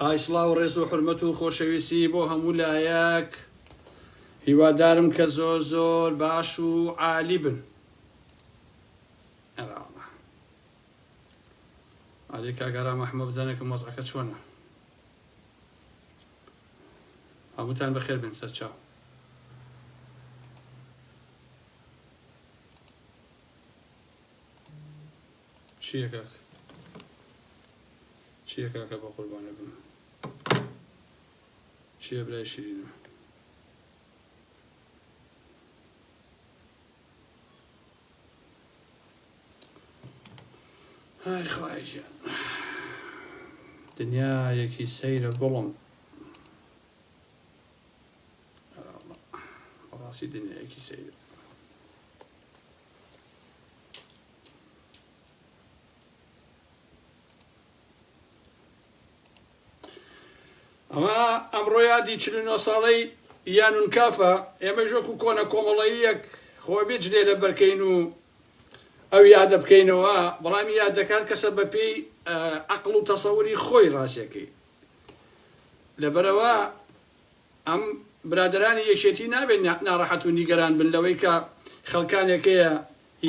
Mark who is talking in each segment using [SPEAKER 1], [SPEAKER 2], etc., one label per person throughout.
[SPEAKER 1] ئای سڵاو ڕێز و حرمەت و خۆشەویستی بۆ هەموو لایەک هیوادارم کە زۆر زۆر باش و عالی بن ئەێ کاگەرا مەحمە بزانێکم وەزعەکە چۆنە هەمووتان بەخێر بێن سەرچاو چیە کاک چیە کاکە بەقوربانە بم چیە برای شیرینم های خوای گیان دنیا یەکی سەیرە گوڵم ڕاستی دنیایەکی سەیرە ئەمە ئەمڕۆ یادی چل و نۆ ساڵەی یانون کافە ئێمەش وەکو کۆنە کۆمەڵەیەک خۆ بێجلێ لە بەرکەین و ئەو یادە بکەینەوە بەڵام یادەکان کەسە بە پێی عقل و تەسەوری خۆی ڕاستەکەی لەبەرەوە ئەم برادەرانی یەکێتی نابێت ناڕەحەت و نیگەران بن لەوەی کە خەڵکانێک هەیە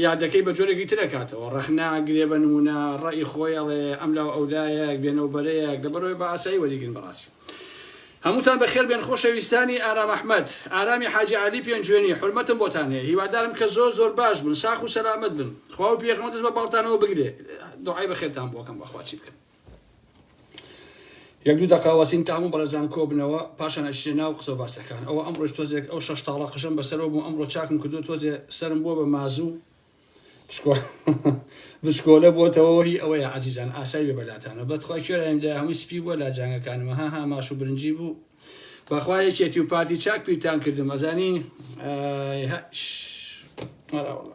[SPEAKER 1] یادەکەی بە جۆرێکی تر ئەکاتەوە، ڕەخنە ئەگرێ بە نموونە ڕەئی خۆی ئەڵێ ئەملاو ئەولایەک، بێنەو بەرەیەک، لەبەرئەوەی بە ئاسایی وەریگرن بەڕاستی هەمووتان بەخێر بێن خۆشەویستانی ئارام ئەحمەد، ئارامی حاجی عەلی پێنجوێنی، حورمەتم بۆتان هەیە هیوادارم کە زۆر زۆر باش بن ساخ و سەلامەت بن خواو پێغەمبەر دەست بە باڵتانەوە بگرێ دوعای بەخێرتان بۆ ئەکەم بەخوا چی بکەم. یەک دوو دەقە وەسین تام و بەڕێزان کۆبنەوە پاشان ئەچێ ناو قسە و باسەکان ئەوە ئەمڕۆش تۆزێک ئەو شەش تاڵە قژەم بەسەرەوە بوو ئەمڕۆ چاکم کردو تۆزێ سەرم بووە بە مازوو بچکۆلە بۆتەوە هی ئەوەیە عزیزان ئاسای بێ بەلاتانە بەتخوای کوێرایم لە هەمووی سپی بووە لا جانگەکانمە ها ها ماش و برنجی بوو بەخوا یەکێتی و پارتی چاک پیرتان کردم ئەزانی مەراوەڵە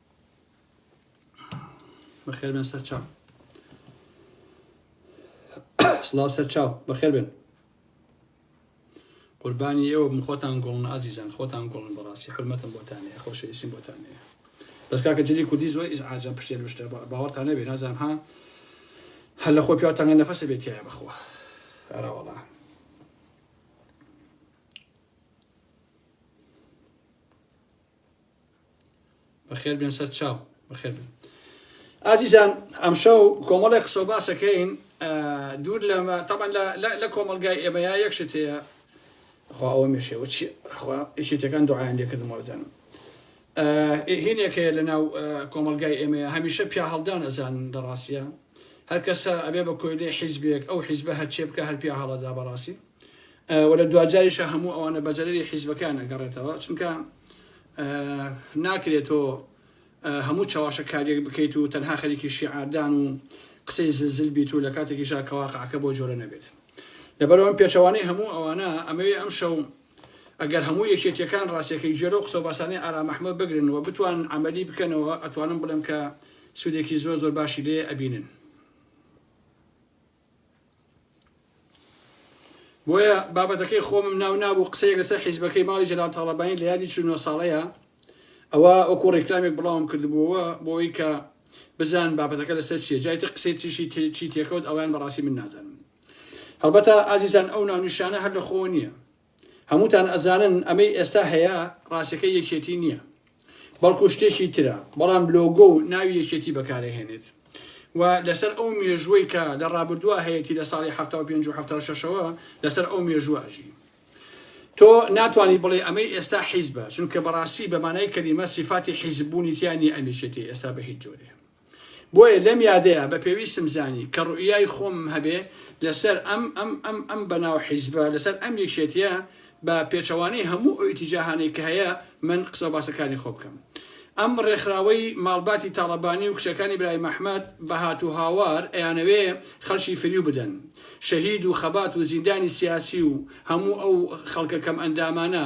[SPEAKER 1] بەخێر بێن سەر چاو سڵاو سەر چاو بەخێر بێن قوربانی ئێوە بم خۆتان گۆڵن ئازیزان خۆتان گۆڵن بەڕاستی حرمەتم بۆتانەیە خۆشە ئیسیم بۆتانەیە بەس کاکە جلی کوردی زۆر ئیز ئاجان پشتێ لوشتە باوەڕتانە بێ نازان ها هەر لە خۆ پیاوتانگە نەفەسە بێتیایە بەخوا ئەراوەڵا بەخێر بێن سەر چاو بەخێر بێن ئازیزان ئەمشەو کۆمەڵی قسە و باسەکەین دوور لەمە تەبەن لە کۆمەلگای ئێمەیە یەکشت هەیە خوا ئەوە مێشەوە چی خوا یەکێتەکان دوعایان لێکردم وەزانم هینێک هەیە لە ناو کۆمەلگای ئێمەیە هەمیشە پیا هەڵدان ئەزان لە ڕاستە هەر کەسە ئەبێ بە کۆیلێ حیزبێک ئەو حیزبە هەرچێ بکە هەر پیا هەڵەدا بەڕاستی و لە دواجاریشا هەموو ئەوانە بە زەرەری حیزبەکەیان ئەگەڕێتەوە چونکە ناکرێت تۆ هەموو چەواشەکاریەک بکەیت و تەنها خەریکی شیعاردان و قسەی زلزل بیت و لە کاتێکیشا کەواقعەکە بۆ جۆرە نەبێت لەبەرەوەم پێچەوانەی هەموو ئەوانە ئەمەوێ ئەم شەو ئەگەر هەموو یەکێتیەکان ڕاستەکەی جێرە و قسە باسانەی ئارام ئەحمەد بگرن و بتوان عملی بکەنەوە ئەتوانم بڵێم کە سوودێکی زۆر زۆر باشی لێ ئەبینن بۆیە بابەتەکەی خۆمم ناو نابوو قسەیەک لەسەر حیزبەکەی ماڵی جەلال تاڵەبانی لە یادی چ نۆ ساڵەیە ئەوە ئەوکو ڕێکلامیک بڵاوم کردبووەوە بۆی کە بزان بابەتەکە لەسەر چیە جای تر قسەی تریشی چی تێکەوت ئەویان بەڕاستی من نازانم هەڵبەتە ئازیزان ئەو ناونیشانە هەر لە خۆ نییە هەمووتان ئەزانن ئەمەی ئێستا هەیە ڕاستەکەی یەکێتی نییە بەڵکو شتێکی ترە بەڵام لۆگۆ و ناوی یەکێتی بەکارەهێنێت و لەسەر ئەو مێژووەی کە لە ڕابردووە هەیەتی لە ساڵی حەفتا و پێنج و حەفتا و شەشەوە لەسەر ئەو مێژووە ئەژی تۆ ناتوانی بڵێ ئەمەی ئێستا حیزبە چونکە بەڕاستی بە مانای کەلیمە سیفاتی حیزب بوونی تیا نییە ئەم یەکێتی ئێستا بە هیچ جۆرێ بۆیە لەم یادەیا بە پێویستم زانی کە ڕوئیای خۆمم هەبێ لەسەر ئەم ئەم ئەم ئەم بەناو حیزبە لەسەر ئەم یەکێتیە بە پێچەوانەی هەموو ئەو ئیتیجاهانەی کە هەیە من قسەو باسەکانی خۆ بکەم ئەم ڕێکخراوەی ماڵباتی تاڵەبانی و کچەکانی برای مەحمەد بە هات و هاوار ئەیانەوێ خەڵکی فریو بدەن شەهید و خەبات و زیندانی سیاسی و هەموو ئەو خەڵکە کەم ئەندامانە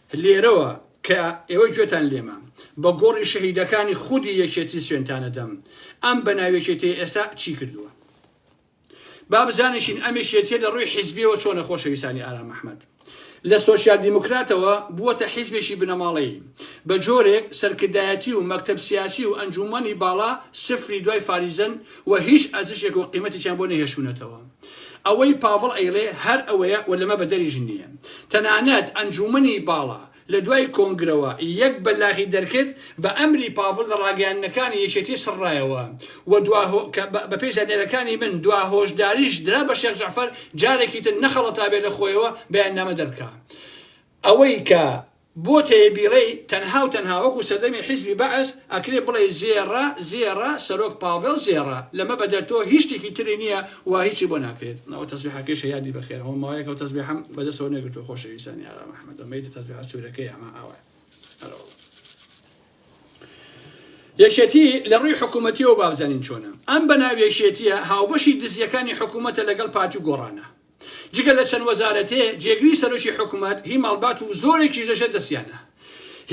[SPEAKER 1] لێرەوە کە ئێوە گوێتان لێمە، بە گۆڕی شەهیدەکانی خودی یەکێتی سوێندتان ئەدەم، ئەم بەناو یەکێتیەی ئێستا چی کردووە؟ با بزانیشین ئەم یەکێتیە لە ڕووی حیزبیەوە چۆنە خۆشەویستانی ئارام ئەحمەد؟ لە سۆسیال دیموکراتەوە بووەتە حیزبێکی بنەماڵەیی، بە جۆرێک سەرکردایەتی و مەکتەب سیاسی و ئەنجوومەنی باڵا سفری دوای فاریزەن و هیچ ئەرزشێک و قیمەتێکیان بۆ نەهێشتوونەتەوە. ئەوەی پاڤڵ ئەیڵێ هەر ئەوەیە و لەمە بەدەریش نییە. تەنانەت ئەنجوومەنی باڵا لە دوای کۆنگرەوە یەک بەلاغی دەرکرد بە ئەمری پاڤڵ لە ڕاگەیاندنەکانی یەکێتی سڕرایەوە و دوا هۆ کە بە پێی زانیاریەکانی من دوا هۆشداریش درا بە شێخ جەعفەر جارێکی تر نەخەڵەتابێ لە خۆیەوە بەیاننامە دەربکا ئەوەی کە بۆ تەیە بیڵێی تەنها و تەنها وەکو سەردەمی حیزبی بەعس ئەکرێ بڵێی زێڕە زێڕە سەرۆک پاڤێڵ زێڕە لەمە بەدەر تۆ هیچ شتێکی تری نیە و هیچی بۆ ناکرێت ئەوە تەسبیحەکەیشە یادی بەخێر ئەوە ماوەیەکە ئەو تەسبیحەم بەدەستەوە نەگرتوە خۆشەویستانی ئارام ئەحمەد ئەمەی تەسبیحە سورەکەی ئەمە ئاوایە هەرەوەڵ یەکێتی لە ڕووی حکوومەتیەوە بابزانین چۆنە ئەم بەناوێکێتیە هاوبەشی دزیەکانی حکوومەتە لەگەڵ پارتی و گۆڕانە جگە لە چەند وەزارەتێ جێگری سەرۆکی حکومەت هی ماڵبات و زۆرێکیش لەژێر دەستیانە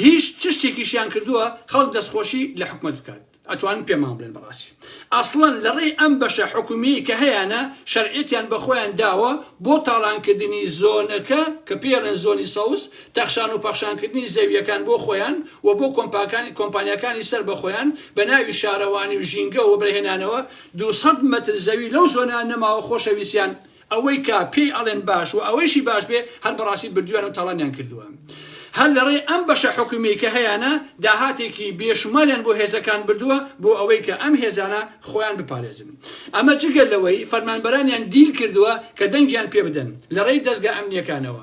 [SPEAKER 1] هیچ چشتێکیشیان کردووە خەڵک دەستخۆشی لە حکومەت بکات ئەتوانن پێمان بڵێن بەڕاستی ئەسڵەن لەڕێی ئەم بەشە حکومیەی کە هەیانە شەرعێتیان بەخۆیان داوە بۆ تاڵانکردنی زۆنەکە کە پێڵێن زۆنی سەوز تەخشان و پەخشانکردنی زەویەکان بۆ خۆیان و بۆ کۆمپاکانی کۆمپانیاکانی سەر بەخۆیان بە ناوی شارەوانی و ژینگە و بەهێنانەوە دوو سەد مەتر زەوی لەو زۆنە نەماوە خۆشەویستیان ئەوەی کە پێی ئەڵێن باش وە ئەوەیشی باش بێ هەر بەڕاستی بردویانەو تاڵانیان کردوە هەر لەڕێی ئەم بەشە حکومیەی کە هەیانە داهاتێکی بێ شوماریان بۆ هێزەکان بردوە بۆ ئەوەی کە ئەم هێزانە خۆیان بپارێزن ئەمە جگە لەوەی فەرمانبەرانیان دیل کردوە کە دەنگیان پێ بدەن لەڕێی دەزگا ئەمنیەکانەوە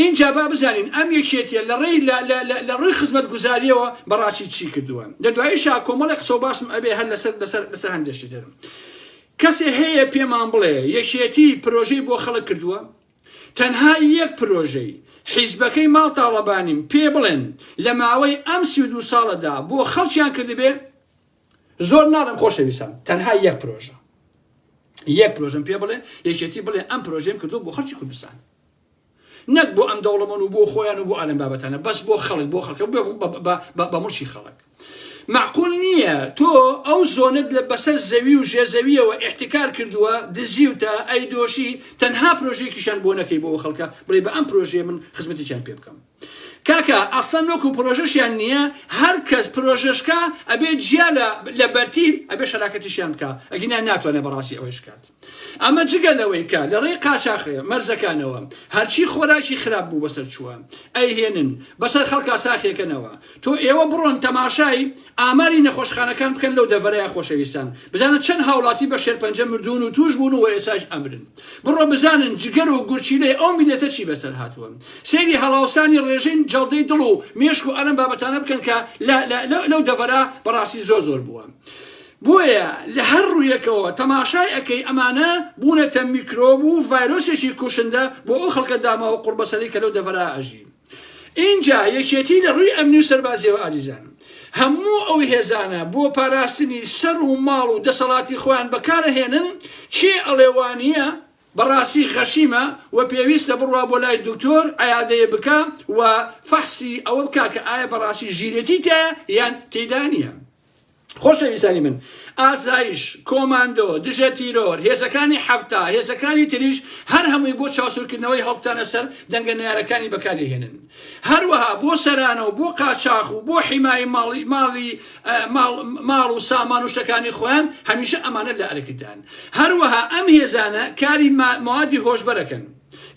[SPEAKER 1] ئینجا با بزانین ئەم یەکێتیە لە ڕێی لە ڕووی خزمەت گوزاریەوە بەڕاستی چی کردووە لە دواییشا کۆمەڵی قسە و باسم ئەبێ هەر لەسەر لەسەر لەسەر هەندێشتی تر کەسێ هەیە پێمان بڵێ یەکێتی پرۆژەی بۆ خەڵک کردووە تەنها یەک پرۆژەی حیزبەکەی ماڵ تاڵەبانیم پێ بڵێن لە ماوەی ئەم سی دو ساڵەدا بۆ خەڵکیان کردبێ زۆر ناڵێم خۆشەویستان تەنها یەک پرۆژە یەک پرۆژم پێ بڵێ یەکێتی بڵێ ئەم پرۆژەم کردو بۆ خەرچی کوردستان نەک بۆ ئەم دەوڵەمەن و بۆ خۆیان و بۆ ئالم بابەتانە بەس بۆ خەڵک بۆ خەڵکە بە مڵشی خەڵک معقول نییە تۆ ئەو زۆنت لە بەسەر زەوی و ژێزەویەوە احتکار کردووە دزیوتە ئەی دۆشی تەنها پرۆژێکیشان بۆ نەکەی بۆ خەڵکە بڵێ بە ئەم پرۆژێ من خزمەتێکیان پێ بکەم کاکە ئەسڵەن وەکو پرۆژەشیان نیە هەر کەس پرۆژەشکا ئەبێ جیا لە لە بەرتیل ئەبێ شەراکەتیشیان بکا ئەگینا ناتوانێ بەڕاستی ئەوەیش بکات ئەمە جگە لەوەی کە لە ڕێی قاچاخ مەرزەکانەوە هەرچی خۆراکی خراپ بوو بەسەر چووە ئەیهێنن بەسەر خەڵکا ساخیەکەنەوە تۆ ئێوە بڕۆن تەماشای ئاماری نەخۆشخانەکان بکەن لەو دەڤەرەیە خۆشەویستان بزانە چەند هاوڵاتی بە شێرپەنجە مردوون و تووش بوون و وە ئێساش ئەمرن. بڕۆ بزانن جگەر و گورچیلەی ئەو میللەتە چی بەسەر هاتووە سەیری هەڵاوسانی ڕێژەی جەڵدەی دڵ و مێشک و ئەلەم بابەتانە بکەن کە لەو دەڤەرا بەڕاستی زۆر زۆر بووە بۆیە لە هەر ڕوویەکەوە تەماشای ئەەکەی ئەمانە بوونەتە میکرۆب و ڤایرۆسێکی کوشندە بۆ ئەو خەڵکە داماوە قوڕبەسەری کە لەو دەڤەرا ئەژین ئینجا یەکێتی لە ڕووی ئەمنی و سەربازییەوە ئازیزان هەموو ئەو هێزانە بۆ پاراستنی سەر و ماڵ و دەسەڵاتی خۆیان بەکار ئەهێنن، کێ ئەڵێ وا نییە، بەڕاستی غەشیمە و پێویستە بڕوا بۆ لای دکتۆر، عیادەیێ بکا و فەحسی ئەوە بکا کە ئایا بەڕاستی ژیرێتی تیایە یان تێیدا نییە. خۆشەویستانی من ئاسایش کۆماندۆ دژە تیرۆر هێزەکانی حەفتا هێزەکانی تریش هەر هەمووی بۆ چاوسورکردنەوەی هەڵبتانە سەر دەنگە نارەکانی بەکاری هێنن هەروەها بۆ سەرانە و بۆ قاچاخ و بۆ حیمایی ماڵی ماڵی ماڵ و سامان و شتەکانی خۆیان هەمیشە ئەمانە لە ئەرکدان هەروەها ئەم هێزانە کاری موادی هۆشبەرەکەن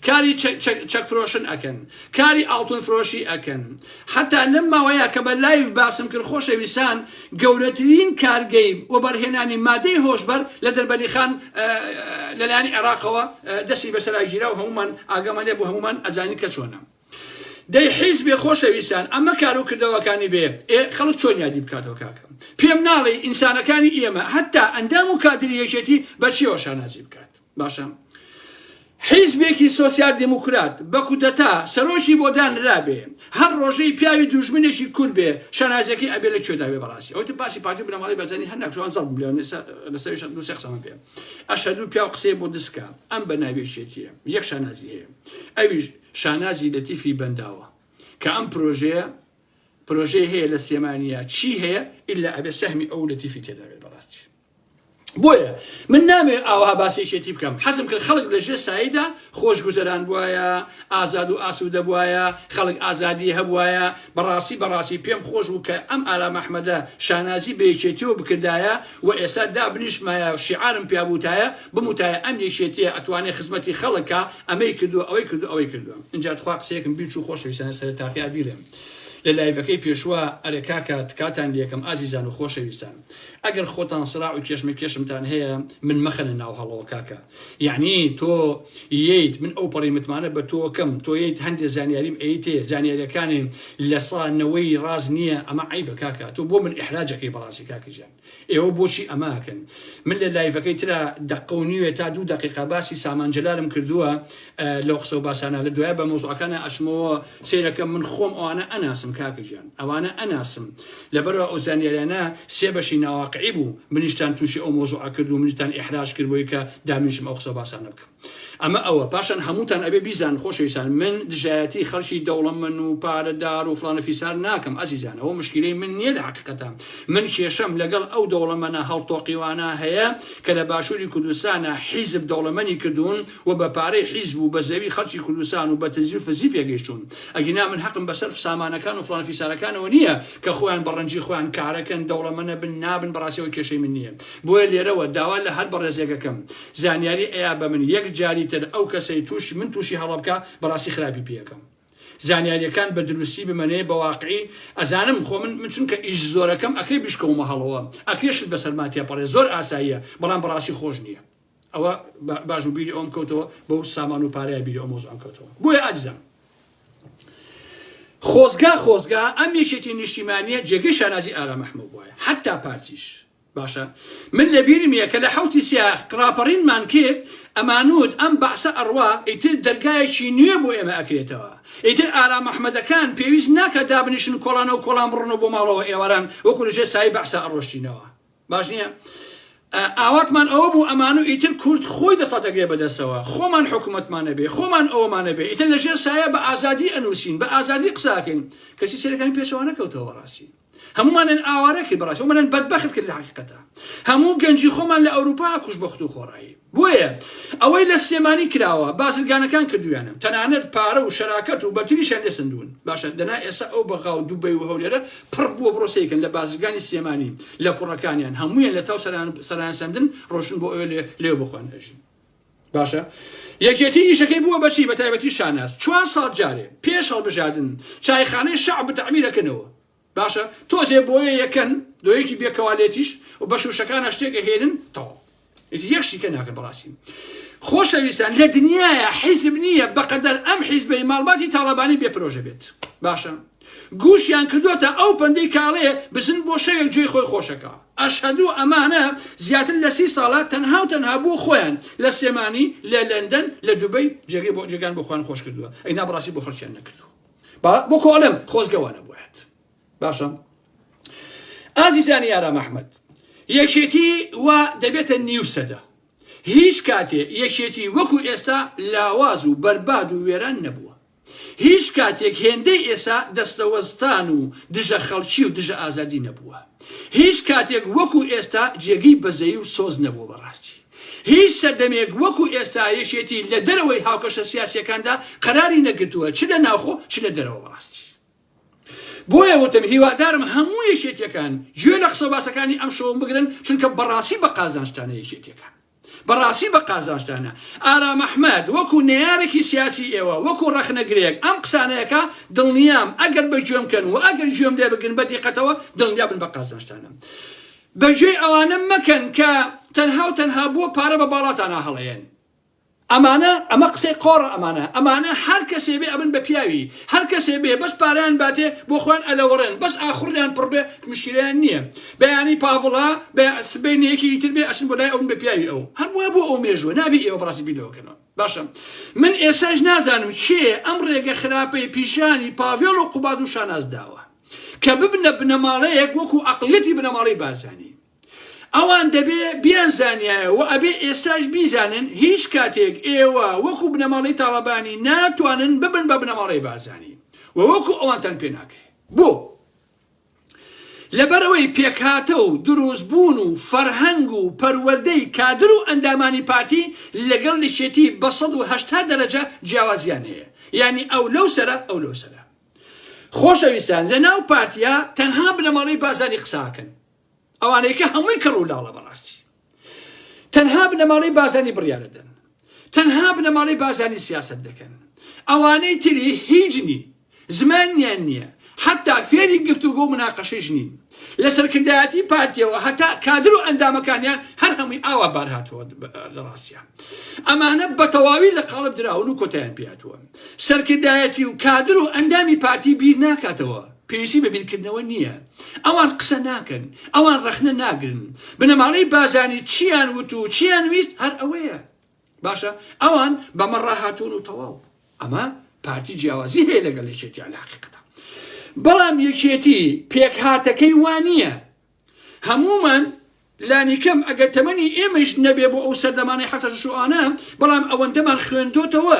[SPEAKER 1] کاری چەک چەک چەک فرۆشن ئەکەن کاری ئاڵتون فرۆشی ئەکەن حتا لەم ماوەیە کە بە لایڤ باسم کرد خۆشەویسان گەورەترین کارگەی وەبەرهێنانی مادەی هۆشبەر لە دەربەنی خان لەلایەنی عێراقەوە دەستی بەسەرا گیرا و هەموومان ئاگامان لێ بوو هەموومان ئەزانین کە چۆنە. دەی حیزبێ خۆشەویستان ئەمە کارو کردەوەکانی بێ ئێ خەڵک چۆن یادی بکاتەوە کاکە پێم ناڵێی ئینسانەکانی ئێمە هەتا ئەندام و کادری یەکێتی بە چیەوە شانازی بکات باشە حیزبێکی سۆسیال دیموکرات بە کودەتا سەرۆکی بۆ دانرابێ هەر ڕۆژەی پیاوی دوژمنێکی کورد بێ شانازیەکەی ئەبێ لە کوێداوێ بەڕاستی ئەوتە باسی پارتی بنەماڵی بەزانی هەر ناکوان زەڵ بلێ لەسەر شەد دوو قسەمە پێ ئەشەدو پیاو قسەی بۆ دسکە ئەم بە ناوێشێتیە یەک شانازی هەیە ئەویش شانازی لەتیفی بەنداوە کە ئەم پرۆژەیە پرۆژەی هەیە لە سێمانیا چی هەیە ئللا ئەبێ سەهمی ئەو لەتیفی تێدابێت بەڕاستی بۆیە من نامێ ئاوا باسێکێتی بکەم حەزم کرد خەڵک لە ژێ سایدا خۆش گوزەران بواە ئازاد و ئاسوودە بواە خەڵک ئازادی هەبواە بەڕاستی بەڕاستی پێم خۆش بوو کە ئەم ئارام ئەحمەدە شانازی بەیەکێتیەوە بکردایە وە ئێستا دابنیشمایە شیعارم پیا بوتایە بموتایە ئەم یەکێتیە ئەتوانێ خزمەتی خەڵک کا ئەمەی کردوە ئەوەی کردوە ئەوەی کردوە ئینجا تخوا قسەیەکم بیرچو خۆشەویستانە سەرەتاپیا بیڵێم لە لایڤەکەی پێشوا ئەرێ کاکە تکاتان لێکەم ئازیزان و خۆشەویستان ئەگەر خۆتان سراو و کێشمەکێشمتان هەیە من مەخەنە ناو هەڵەوە کاکە یەعنی تۆ یەیت من ئەوپەڕی متمانە بە تۆ کەم تۆ یەیت هەندێ زانیاریم ئەیتێ زانیاریەکانێم لە سا نەوەی ڕاست نییە ئەمە عەیبە کاکە تۆ بۆ من ئیحراج ئەکەی بەڕاستی کاکە جان ئێوە بۆچی ئەمە ئەکەن من لە لایڤەکەی ترا دەقە و نیوێ تا دوو دەقیقە باسی سامان جەلالم کردووە لەو قسە و باسانە لە دوایە بە مەوزوعەکانا ئەچمەوە سەیرەکەم من خۆم ئەوانە ئەناسم کاکە گیان ئەوانە ئەناسم لەبەرەوە ئەو زانیاریانە سێ بەشی ناواقعی بوو منیشتان تووشی ئەو مەوزوعە کرد و منیشتان ئیحراج کرد بۆی کە دامنیشم ئەو قسە و باسانە بکەم ئەمە ئەوە پاشان هەمووتان ئەبێ بیزان خۆشەویستان من دژایەتی خەڵکی دەوڵەمەن و پارەدار و فڵانە فیسار ناکەم ئەزیزان ئەوە مشکلەی من نییە لە حەقیقەتە من کێشەم لەگەڵ ئەو دەوڵەمەنە هەڵتۆقیوانە هەیە کە لە باشووری کوردستانە حیزب دەوڵەمەنی کردوون و بە پارەی حیزب و بە زەوی خەڵکی کوردستان و بە تزی و فزی پێگەیشتوون ئەگینا من حەقم بە سەرف سامانەکان و فڵان فیسارەکانەوە نییە کە خۆیان بە ڕەنجی خۆیان کارەکەن دەوڵەمەنە بن نابن بەڕاستی ئەوە کێشەی من نییە بۆیە لێرەوە داوا لە هەر بەڕێزێکەکەم زانیاری ئەیا بە من یەک جاری تر ئەو کەسەی تووشی من تووشی هەڵە بکا بەڕاستی خراپی پێکەم زانیاریەکان بە دروستی بمەنێ بە واقعی ئەزانم خۆ من من چونکە ئیش زۆرەکەم ئەکرێ بیشکەومە هەڵەوە ئەکرێ شت بەسەرما تێپەڕێ زۆر ئاساییە بەڵام بەڕاستی خۆش نییە. ئەوە باش بوو بیری ئەوم کەوتەوە بەو سامان و پارەیە بیری ئەو مۆزوعم کەوتەوە بۆیە ئازیزان خۆزگا خۆزگا ئەم یەکێتی نیشتیمانیە جێگەی شانازی ئارام ئەحمەد بوایە حتا پارتیش باشە من لە بیرم یە کە لە حوتی سیاخ ڕاپەڕینمان کرد ئەمانوت ئەم بەعسە ئەڕوا ئیتر دەرگایەکی نوێ بۆ ئێمە ئەکرێتەوە ئیتر ئارام ئەحمەدەکان پێویست ناکە دابنیشن کۆڵانە و کۆڵان بڕنەوە بۆ ماڵەوە ئێواران وەکو لەژێ سایەی بەعسە ئەڕۆشتینەوە باش نییە ئاواتمان ئەوە بوو ئەمان و ئیتر کورد خۆی دەسەڵات ئەگرێ بەدەستەوە خۆمان حکوومەتمان نەبێ خۆمان ئەوەمانە بێ ئیتر لە ژێر سایە بە ئازادی ئەنووسین بە ئازادی قساکەین کەسی سەرەکانی پێچەوانە کەوتەوە بەڕاستی هەمومانن ئاوارەکە بەڕاستی ومانن بەدبەخت کرد لە حقیقەتە هەموو گەنجی خۆمان لە ئەوروپا کوش بە خود و خۆڕایی بۆیە ئەوەی لە سلێمانی کراوە بازرگانەکان کردویانە تەنانەت پارە و شەراکەت و بەرتریشیان لێ سەندوون باشە دەنا ئێستا ئەو بەغا و دوبەی و هەولێرە پڕ بووە بڕۆ سەیرکەن لە بازرگانی سلێمانی لە کوڕەکانیان هەموویان لە تاو سەرایان سەندن ڕۆشتن بۆ ئەوێ لێ بۆ خۆیان ئەژین باشە یەکێتی ئیشەکەی بووە بەچی بەتایبەتی شاناز چوار ساڵ جارێ پێش هەڵبژاردن چایخانەی شەعب بتەعمیرەکەنەوە. باشە تۆزێ بۆیە یەکەن لۆیەکی بێ کەوالێتیش و بەش وشەکانە شتێک ئەهێنن تەواو ئیتر یەک شتیکە ناکە بەڕاستی خۆشەویستان لە دنیاە حیزب نییە بەقەدەر ئەم حیزبەی ماڵباتی تاڵەبانی بێ پرۆژە بێت باشە گوشیان کردوتە ئەو پەندەی کاڵێ بزن بۆ شەوێک جێی خۆی خۆشەکە ئەشهدو ئەمانە زیاتر لە سی ساڵە تەنها و تەنها بۆ خۆیان لە سێمانی لە لەندەن لە دوبەی جێگەی بۆ جێگان بۆ خوان خۆش کردووە ئەی نابڕاستی بۆ خەڵکیان نەکردووە با وەکۆ ئەڵێم خۆزگە وا نەبوایەت باشە ئازیزانی ئارام ئەحمەد یەکێتی وا دەبێتە نیو سەدە هیچ کاتێ یەکێتی وەکو ئێستا لاواز و بەرباد و وێران نەبووە هیچ کاتێک هێندەی ئێسا دەستەوەستان و دژە خەڵکی و دژە ئازادی نەبووە هیچ کاتێک وەکو ئێستا جێگەی بەزەی و سۆز نەبووە بەڕاستی هیچ سەردەمێک وەکو ئێستا یەکێتی لە دەرەوەی هاوکەشە سیاسیەکاندا قەراری نەگرتووە چ لە ناوخۆ چ لە دەرەوە بەڕاستی بۆیە وتم هیوادارم هەموو یەکێتیەکان گوێ لە قسەو باسەکانی ئەم شەوم بگرن چونکە بەڕاستی بە قازانجتانە یەکێتیەکان بەڕاستی بە قازانجتانە ئارام ئەحمەد وەکو نەیارێکی سیاسی ئێوە وەکو ڕەخنەگرێک ئەم قسانەیەکە دڵنیام ئەگەر بە گوێم کەن و ئەگەر گوێم لێ بگرن بە دیقەتەوە دڵنیا بن بە قازانجتانە بەگوێی ئەوانە مەکەن کە تەنها و تەنها بۆ پارە بە باڵاتانا هەڵەیەن ئەمانە ئەمە قسەی قۆڕە ئەمانە ئەمانە هەر کەسێ بێ ئەبن بە پیاوی هەر کەسێ بێ بەس پارەیان باتێ بۆ خۆیان ئەلەوەڕێن بەس ئاخوڕیان پڕ بێ مشکیلەیان نیە بەیانی پاڤڵا بە سبەینێ یەکێکی تر بێ ئەچن بۆ لای ئەو بن بە پیاوی ئەو هەر وا بۆ ئەو مێژووە نابێ ئێوە بەڕاستی بیر لەوە کەنەوە باشە من ئێستاش نازانم کێ ئەم ڕێگە خراپەی پیشانی پاڤێڵ و قوباد و شاناز داوە کە ببنە بنەماڵەیەک وەکو ئەقڵیەتی بنەماڵەی بارزانی ئەوان دەبێ بیان زانیایە و ئەبێ ئێستاش بیزانن هیچ کاتێک ئێوە وەکو بنەماڵەی تاڵەبانی ناتوانن ببن بە بنەماڵەی بارزانی و وەکو ئەوانتان پێ ناکرێت بۆ لەبەرەوەی پێکهاتە و دروستبوون و فەرهەنگ و پەروەردەی کادر و ئەندامانی پارتی لەگەڵ لەشێتی بە ١٨ دەرەجە جیاوازیان هەیە یعنی ئەو لەو سەرە ئەو لەو سەرە خۆشەویستان لە ناو پارتیا تەنها بنەماڵەی بارزانی قساکەن ئەوانەیکە هەمووی کەڕ و لاڵە بەڕاستی تەنها بنەماڵەی بازانی بڕیارەدەن تەنها بنەماڵەی بازانی سیاست دەکەن ئەوانەی تری هیچ نین زمانیان نییە حتا فێری گفت و گۆ مناقەشەش نین لە سەرکردایەتی پارتیەوە هەتا کادر و ئەندامەکانیان هەر هەمووی ئاوا بار هاتووە لە ڕاستە ئەمانە بە تەواوی لە قاڵب دراون و کۆتیان پیاتوە سەرکردایەتی و کادر و ئەندامی پارتی بیر ناکاتەوە، پێویستی بە بیرکردنەوە نییە، ئەوان قسە ناکەن، ئەوان ڕەخنە ناگرن، بنەماڵەی بارزانی چییان وت و چییان ویست هەر ئەوەیە، باشە ئەوان بەمە ڕاهاتوون و تەواو، ئەمە پارتی جیاوازی هەیە لەگەڵ یەکێتی عەلەحەقیقەتە، بەڵام یەکێتی پێکهاتەکەی وا نییە، هەموومان لانیکەم ئەگەر تەمەنی ئێمەش نەبێ بۆ ئەو سەردەمانەی حەسەش شوانە بەڵام ئەوەندەمان خوێندۆتەوە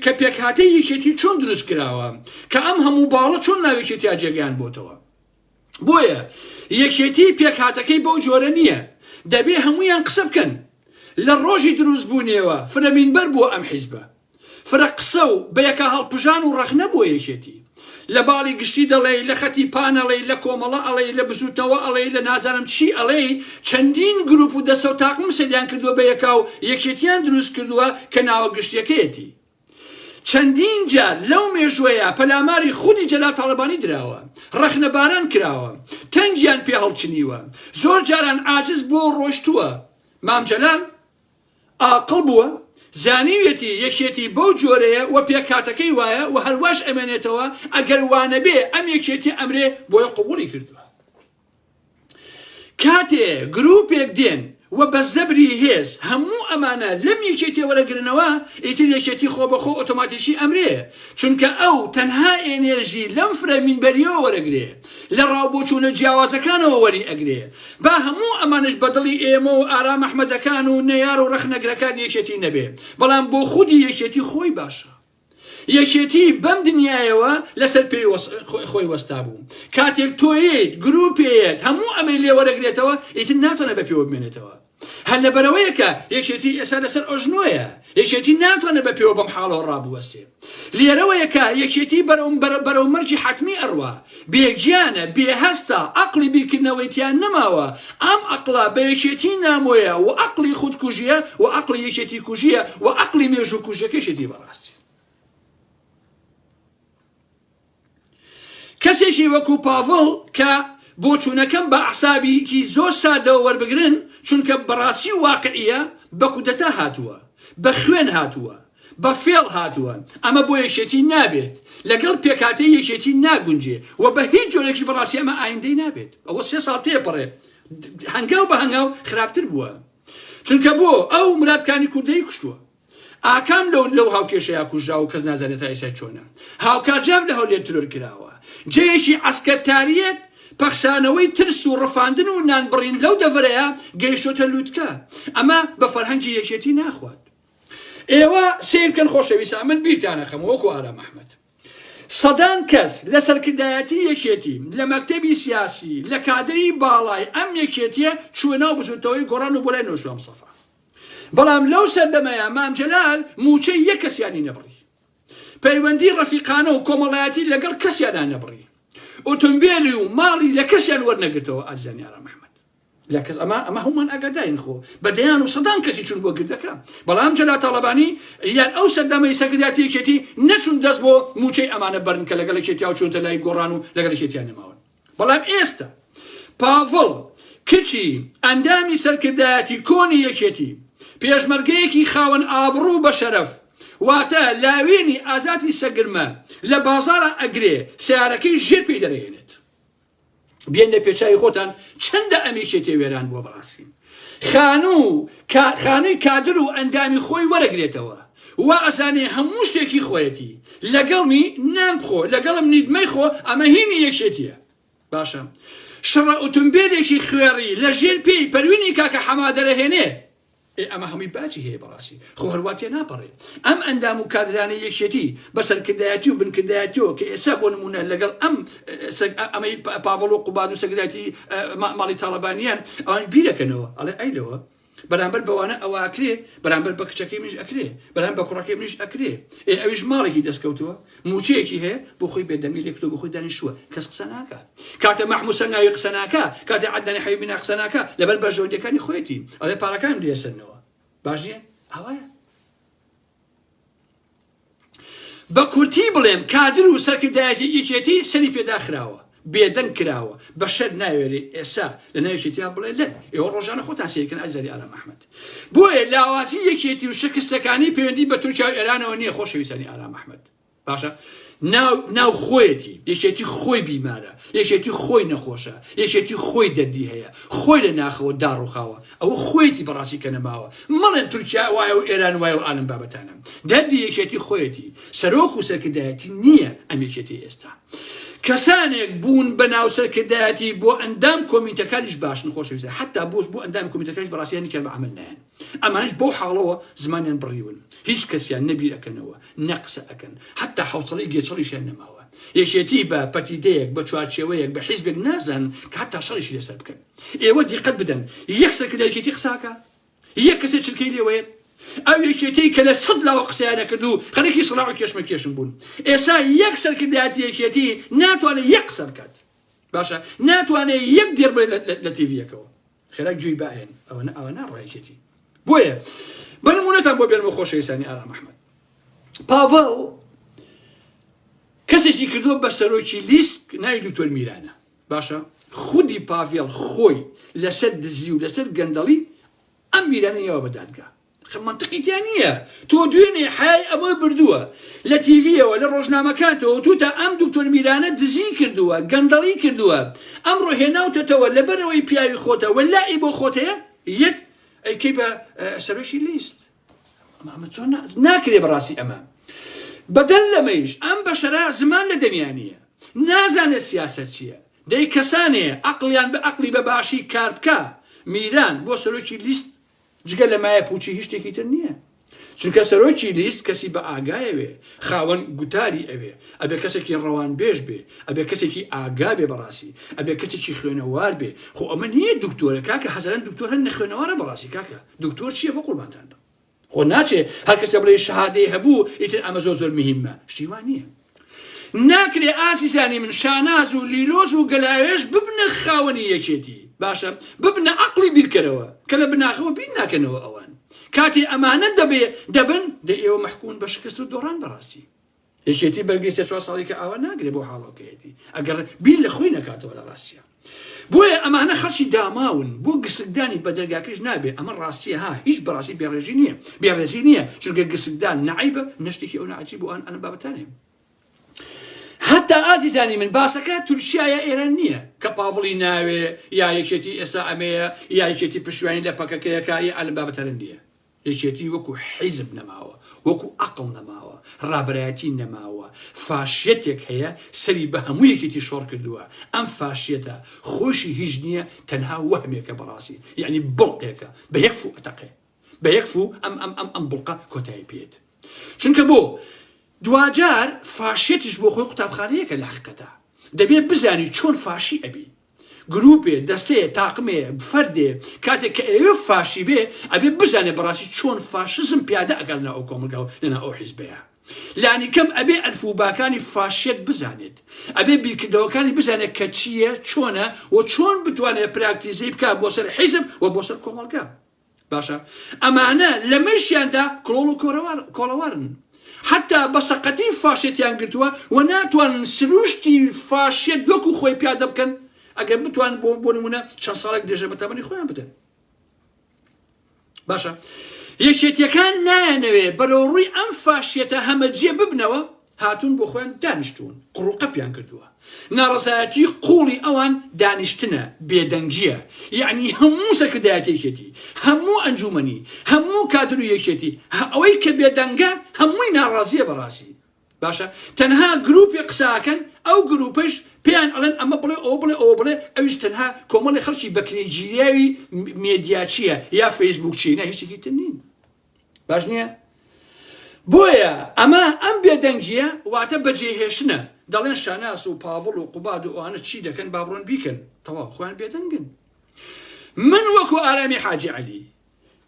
[SPEAKER 1] کە پێکهاتەی یەکێتی چۆن دروست کراوە کە ئەم هەموو باڵە چۆن ناوێکی تیا جێگەیان بۆتەوە بۆیە یەکێتی پێکهاتەکەی بەو جۆرە نییە دەبێ هەمویان قسە بکەن لە ڕۆژی دروست بوونیەوە فرەمینبەر بووە ئەم حیزبە فرە قسە و بە یەکا هەڵپژان و ڕەخنە بۆ یەکێتی. لە باڵی گشتی دەڵێی، لە خەتی پان ئەڵێی، لە کۆمەڵە ئەڵێی، لە بزووتنەوە ئەڵێی، لە نازانم چی ئەڵێی، چەندین گرووپ و دەستە و تاقمم سەریان کردووە بە یەکا و یەکێتیان دروست کردووە کە ناوە گشتیەکەیەتی. چەندین جار لەو مێژووەیا پەلاماری خودی جەلال تاڵەبانی دراوە. ڕەخنەباران کراوە. تەنگیان پێ هەڵچنیوە. زۆر جاران عاجز بووە و ڕۆشتووە. مام جەلال ئاقڵ بووە زانیویەتی یەکێتی بەو جۆرەیە و پێکهاتەکەی وایە و هەر واش ئەمێنێتەوە ئەگەر وانەبێ ئەم یەکێتیە ئەمرێ بۆیە قبوڵی کردووە کاتێ گروپێک دێن و بە زەبری هێز هەموو ئەمانە لەم یەکێتیە وەرەگرنەوە ئیتر یەکێتی خۆ بەخۆ ئۆتۆماتیکی ئەمرێ چونکە ئەو تەنها ئێنێرژی لەم فرە مینبەریەوە وەرەگرێ لە ڕاو بۆچوونە جیاوازەکانەوە وەری ئەگرێ با هەموو ئەمانەش بە دڵی ئێمە و ئارام ئەحمەدەکان و نەیار و ڕەخنەگرەکانی یەکێتی نەبێ بەڵام بۆ خودی یەکێتی خۆی باشە یەکێتی بەم دنیایەوە لەسەر پێی وەس... خۆی وەستا بوو کاتێک تۆیت گروپێت هەموو ئەمەی لێوەرەگرێتەوە ئیتر ناتەنە بە پێوە بمێنێتەوە هەر لەبەرەوەیە کە یەکێتی ئێستا لەسەر ئۆژنۆیە، یەکێتی ناتوانێت بە پێوە بەم حاڵەوە ڕابوەستێ. لێرەوەیە کە یەکێتی بەرەو بەرە بەرەو مەرجی حەتمی ئەڕوا. بێ گیانە، بێ هەستە، ئەقڵی بیرکردنەوەی تیا نەماوە، ئەم ئەقڵە بە یەکێتی نامۆیە و ئەقڵی خودکوژییە و ئەقڵی یەکێتی کوژییە و ئەقڵی مێژووکوژییەکەشێتی بەڕاستی. کەسێکی وەکو پاڤڵ کە بۆچوونەکەم بە ئەعسابیکی زۆر سادەوە وەربگرن چونکە بەڕاستی و واقعییە بە کودەتا هاتووە، بە خوێن هاتووە، بە فێڵ هاتووە، ئەمە بۆ یەکێتی نابێت، لەگەڵ پێکهاتەی یەکێتی ناگونجێ و بە هیچ جۆرێکیش بەڕاستی ئەمە ئایندەی نابێت، ئەوە سێ ساڵ تێپەڕێ هەنگاو بە هەنگاو خراپتر بووە چونکە بۆ ئەو مرادکانی کوردەی کوشتووە. ئاکام لەو لەو هاوکێشەیا کوژراوە و کەس نازانێت تا ئێسای چۆنە هاوکار جاف لە هەولێر ترۆر کراوە جێیەکی عسکەرتاریەت پەخشانەوەی ترس و ڕفاندن و نان بڕین لەو دەڤەرەیە گەیشتۆتە لووتکە ئەمە بە فەرهەنگی یەکێتی ناخوات ئێوە سیرکەن خۆشەویسا من بیرتانە خەم وەکو ئارام ئەحمد سەدان کەس لە سەرکردایەتی یەکێتی لە مەکتتەبی سیاسی لە کادری باڵای ئەم یەکێتیە چوە ناو بزوتەوەی گۆڕان و بۆ لای نۆژوام سەفا بەڵام لەو سەردەمەیا مام جەلال مووچەی یەک کەسیانی نەبڕی، پەیوەندی ڕەفیقانە و کۆمەڵایەتی لەگەڵ کەسیانا نەبڕی، ئۆتۆمبێلی و ماڵی لە کەسیان وەرنەگرتەوە ئازیزانی ئارام ئەحمەد لە کەس ئەمە ئەمە هەموومان ئاگادارین خۆ بە دەیان و سەدان کەسی چون بۆ گردەکە بەڵام جەلا تاڵەبانی یان ئەو سەردەمەی سەرکردایەتی یەکێتی نەچون دەست بۆ مووچەی ئەمانە بەرن کە لەگەڵ یەکێتیا و چونتە لای گۆڕان و لەگەڵ یەکێتیان نەماون بەڵام ئێستا پاڤڵ کچی ئەندامی سەرکردایەتی کۆنی یەکێتی، پێشمەرگەیەکی خاوەن ئابڕوو و بەشەرەف، واتە لاوێنی ئازادی سەگرمە لە بازاڕا ئەگرێ سەیارەکەی ژێر پێی دەرەهێنێت. بێنە پێچاوی خۆتان چەندە ئەم یەکێتیە وێران بووە بەڕاستی. خانوو کا خانووی کادر و ئەندامی خۆی وەرەگرێتەوە وا ئەزانێ هەموو شتێک هی خۆیەتی لەگەڵمی نان بخۆ لەگەڵم نیت مەیخۆ ئەمە هینی یەکێتیە باشە شڕە ئوتومبێلێکی خوێڕی لەژێر پێی پەروینی کاکە حەمادەرەهێنێ ئێ ئەمە هەمووی باجی هەیە بەڕاستی خۆ هەر وا تێناپەڕێ ئەم ئەندام و کادرانەی یەکێتی بە سەرکردایەتی و بنکردایەتیەوە کە ئێستا بۆ نموونە لەگەڵ ئەم سەگ ئەمەی پاڤڵ و قوباد و سەگراتی ماڵی تاڵەبانیان ئەوان بیرەکەنەوە ئەڵێ ئەی لەوە بەرامبەر بەوانە ئەوە ئەکرێ بەرامبەر بە کچەکەی منیش ئەکرێ بەرام بە کوڕەکەی منیش ئەکرێ ئێ ئەویش ماڵێکی دەستکەوتووە موچەیەکی هەیە بۆ خۆی بێدەنگی لێکتۆ بۆ خۆی دانیشووە کەس قسە ناکە کاتە مەحموسە ناوی قسە ناکە کاتە عدنانی حەوی بنا قسە ناکە لەبەر بەرژەوەندەکانی خۆیەتی ئەڵێ پارەکان لێسەرنەوە باش نییە ئاوایە بە کورتی بڵێم کادر و سەرکردایەتی یەکێتی سەری پێداخراوە بێدەنگ کراوە بە شەر ناوێری ئێسا لە ناوێکێتیان بڵێ لەن ئێوە ڕۆژانە خۆتان سێکن ئازاری ئارام ئەحمد بۆیە لاوازی یەکێتی و شکستەکانی پەیوەندی بە تورکیا و ئێرانەوە نییە خۆشەویستانی ئارام ئەحمد باشە ناو ناو خۆیەتی یەکێتی خۆی بیمارە یەکێتی خۆی نەخۆشە یەکێتی خۆی دەردی هەیە خۆی لە ناخەوە داڕوخاوە ئەوە خۆیەتی بەڕاستی کە نەماوە مەڵێن تورکیا وایە و ئێران وایە و ئالم بابەتانە دەردی یەکێتی خۆیەتی سەرۆک و سەرکردایەتی نییە ئەم یەکێتی ئێستا کەسانێک بوون بە ناو سەرکردایەتی بۆ ئەندام کۆمیتەکانیش باشن خۆشەویستە حتا بۆش بۆ ئەندام کۆمیتەکەش بەڕاستیان نیکە بە عمل نایەن ئەمانەش بەو حاڵەوە زمانیان بڕیون هیچ کەسیان نە بیر ئەکەنەوە نە قسە ئەکەن حەتا حەوسەڵەی گێچەڵیشیان نەماوە یەکێتی بە پەتیدەیەک بە چوارچێوەیەک بە حیزبێک نازانن کە حەتا شەڕیشی لەسەر بکەن ئێوە دیقەت بدەن یەک سەرکردە یەکێتی قسە ئەکا یەک کەسێ چرکەی لێوەیەت ئەو یەکێتیی کە لە سەد لاوە قسەیان نەکرد و خەریکی سڵاع و کێشمەکێشم بوون ئێستا یەک سەرکردایەتی یەکێتی ناتوانێت یەک قسە بکات باشە ناتوانێت یەک دێر بڵێ لە تیڤییەکەوە خێرا گوێی بئن ئەوەنە ئاوا ناڕوا یەکێتی بۆیە بە نمونەتان بۆ بێنمە خۆشەویستانی ئارام ئەحمەد پاڤڵ کەسێکی کردو بە سەرۆکی لیست ناوی دکتۆر میرانە باشە خودی پاڤێڵ خۆی لەسەر دزی و لەسەر گەندەڵی ئەم میرانە یەوە بە دادگا ئەخە مەنتقی تیا نیە تۆ دوێنێ حەیای ئەمە بردووە لە تیڤیەوە لە ڕۆژنامەکانتەوە وتوتە ئەم دکتۆر میرانە دزی کردووە گەندەڵی کردووە ئەمڕۆ هێناوتەتەوە لەبەرئەوەی پیاوی خۆتە واللە ی بۆ خۆت هەیە یەت ئەیکەی بە سەرۆکی لیست ئەمە چۆن ناکرێ بەڕاستی ئەمە بەدەر لەمەیش ئەم بەشەرا زمان لە دەمیانە نازانێت سیاست چییە دەی کەسانێ ئەقلیان بە ئەقلی بە باشی کار بکە میران بۆ سەرۆکی لیست جگە لە مایە پوچی هیچ شتێکی تر نیە چونکە سەرۆکی لیست کەسی بە ئاگایەوێ خاوەن گوتاری ئەوێ ئەبێ کەسێکی ڕەوان بێژ بێ ئەبێ کەسێکی ئاگا بێ بەڕاستی ئەبێ کەسێکی خوێنەوار بێ خۆ ئەمە نیە دکتۆرە کاکە هەزاران دکتۆر هەن نەخوێنەوارە بەڕاستی کاکە دکتۆر چیە بە قوربانتان بم خۆ ناچێ هەر کەسە بڵێ شەهادەی هەبوو ئیتر ئەمە زۆر زۆر مهمە شتی وا نیە ناکرێ ئازیزانی من شاناز و لیلۆز و گەلاوێژ ببنە خاوەنی یەکێتی باشە ببنە عەقڵی بیرکەرەوە کە لە بناخەوە بیر ناکەنەوە ئەوان کاتێ ئەمانە دەبێ دەبن دە ئێوە مەحکومن بە شکست و دۆڕان بەڕاستی یەکێتی بەرگەی سێ چوار ساڵی کە ئاوا ناگرێ بۆ حاڵۆکەیەتی ئەگەر بیر لە خۆی نەکاتەوە لە ڕاستیە بۆیە ئەمانە خەڵکی داماون بۆ گسکدانی بە دەرگاکەش نابێ ئەمە ڕاستیە ها هیچ بەڕاستی بێڕێژی نییە بێڕێزی نییە چونگە گسکدان نعیبە نشتێکی ئەو ناجی بۆ ئەن ئەن بابەتانێ هەتا ئازیزانی من باسەکە تورکیا یا ئێران نییە کە پاڤڵی ناوێ یا یەکێتی ئێستا ئەمەیە یاکێتی پشوانی لە پەکەکەیەکە یا ئەلم بابەتەرن نییە یەکێتی وەکو حیزب نەماوە، وەکو ئەقڵ نەماوە، ڕابەرایەتی نەماوە، فاشیەتێک هەیە سەری بە هەموو یەکێتی شۆڕ کردووە، ئەم فاشیەتە خۆیشی هیچ نییە تەنها وەهمێکە بەڕاستی یەعنی بڵقێکە بە یەک فوو ئەتەقێ بە یەک فوو ئەم ئەم ئەم ئەم بڵقە کۆتایی پێیەت چونکە بۆ دواجار فاشیەتیش بۆ خۆی قوتابخانەیەکە لە حەقیقەتا دەبێ بزانی چۆن فاشی ئەبی گروپێ، دەستەیە، تاقمێ، فەردێ، کاتێک کە ئەیەوێ فاشی بێ، ئەبێ بزانێ بەڕاستی چۆن فاشزم پیادە ئەکا لەناو ئەو کۆمەڵگا و لەناو ئەو حیزبەیا. لانیکەم ئەبێ ئەلف و باکانی فاشیەت بزانێت. ئەبێ بیرکردەوەکانی بزانێ کە چییە، چۆنە و چۆن بتوانێ پراکتیزەی بکا بۆ سەر حیزب و بۆ سەر کۆمەڵگا. باشە ئەمانە لە مەیشیاندا کڵۆڵ و کۆڵەوارن حەتا بە سەقەتی فاشێتیان گرتووە و ناتوانن سروشتی فاشێت وەکو خۆی پیادە بکەن ئەگەر بتوان بۆ بۆ نمونە چەند ساڵێک درێژە بە تەمەنی خۆیان بدەن باشە یەکێتیەکان نایەنەوێ بەرەو ڕووی ئەم فاشیەتە هەمەجێ ببنەوە هاتوون بۆ خۆیان دانیشتوون قڕوقەپیان کردووە ناڕەزایەتی قوڵی ئەوان دانیشتنە بێدەنگیە یەعنی هەموو سەرکردایەتێکێتی هەموو ئەنجومەنی هەموو کادر و یەکێتی هە ئەوەی کە بێدەنگە هەمووی ناڕازیە بەڕاستی باشە تەنها گروپی قساکەن ئەو گروپەش پێیان ئەڵێن ئەمە بڵێ ئەو بڵێ ئەو بڵێ ئەویش تەنها کۆمەڵی خەڵکی بەکنێگیریاوی مێدیاچیە یا فەیسبوک چینە هیچێکی تر نین باش نییە؟ بۆیە ئەمە ئەم بێدەنگییە واتە بەجێهێشتنە، دەڵێن شاناس و پاڤڵ و قوباد و ئەوانە چی دەکەن با بڕۆن بیکەن، تەواو خۆیان بێدەنگن. من وەکو ئارامی حاجی عەلی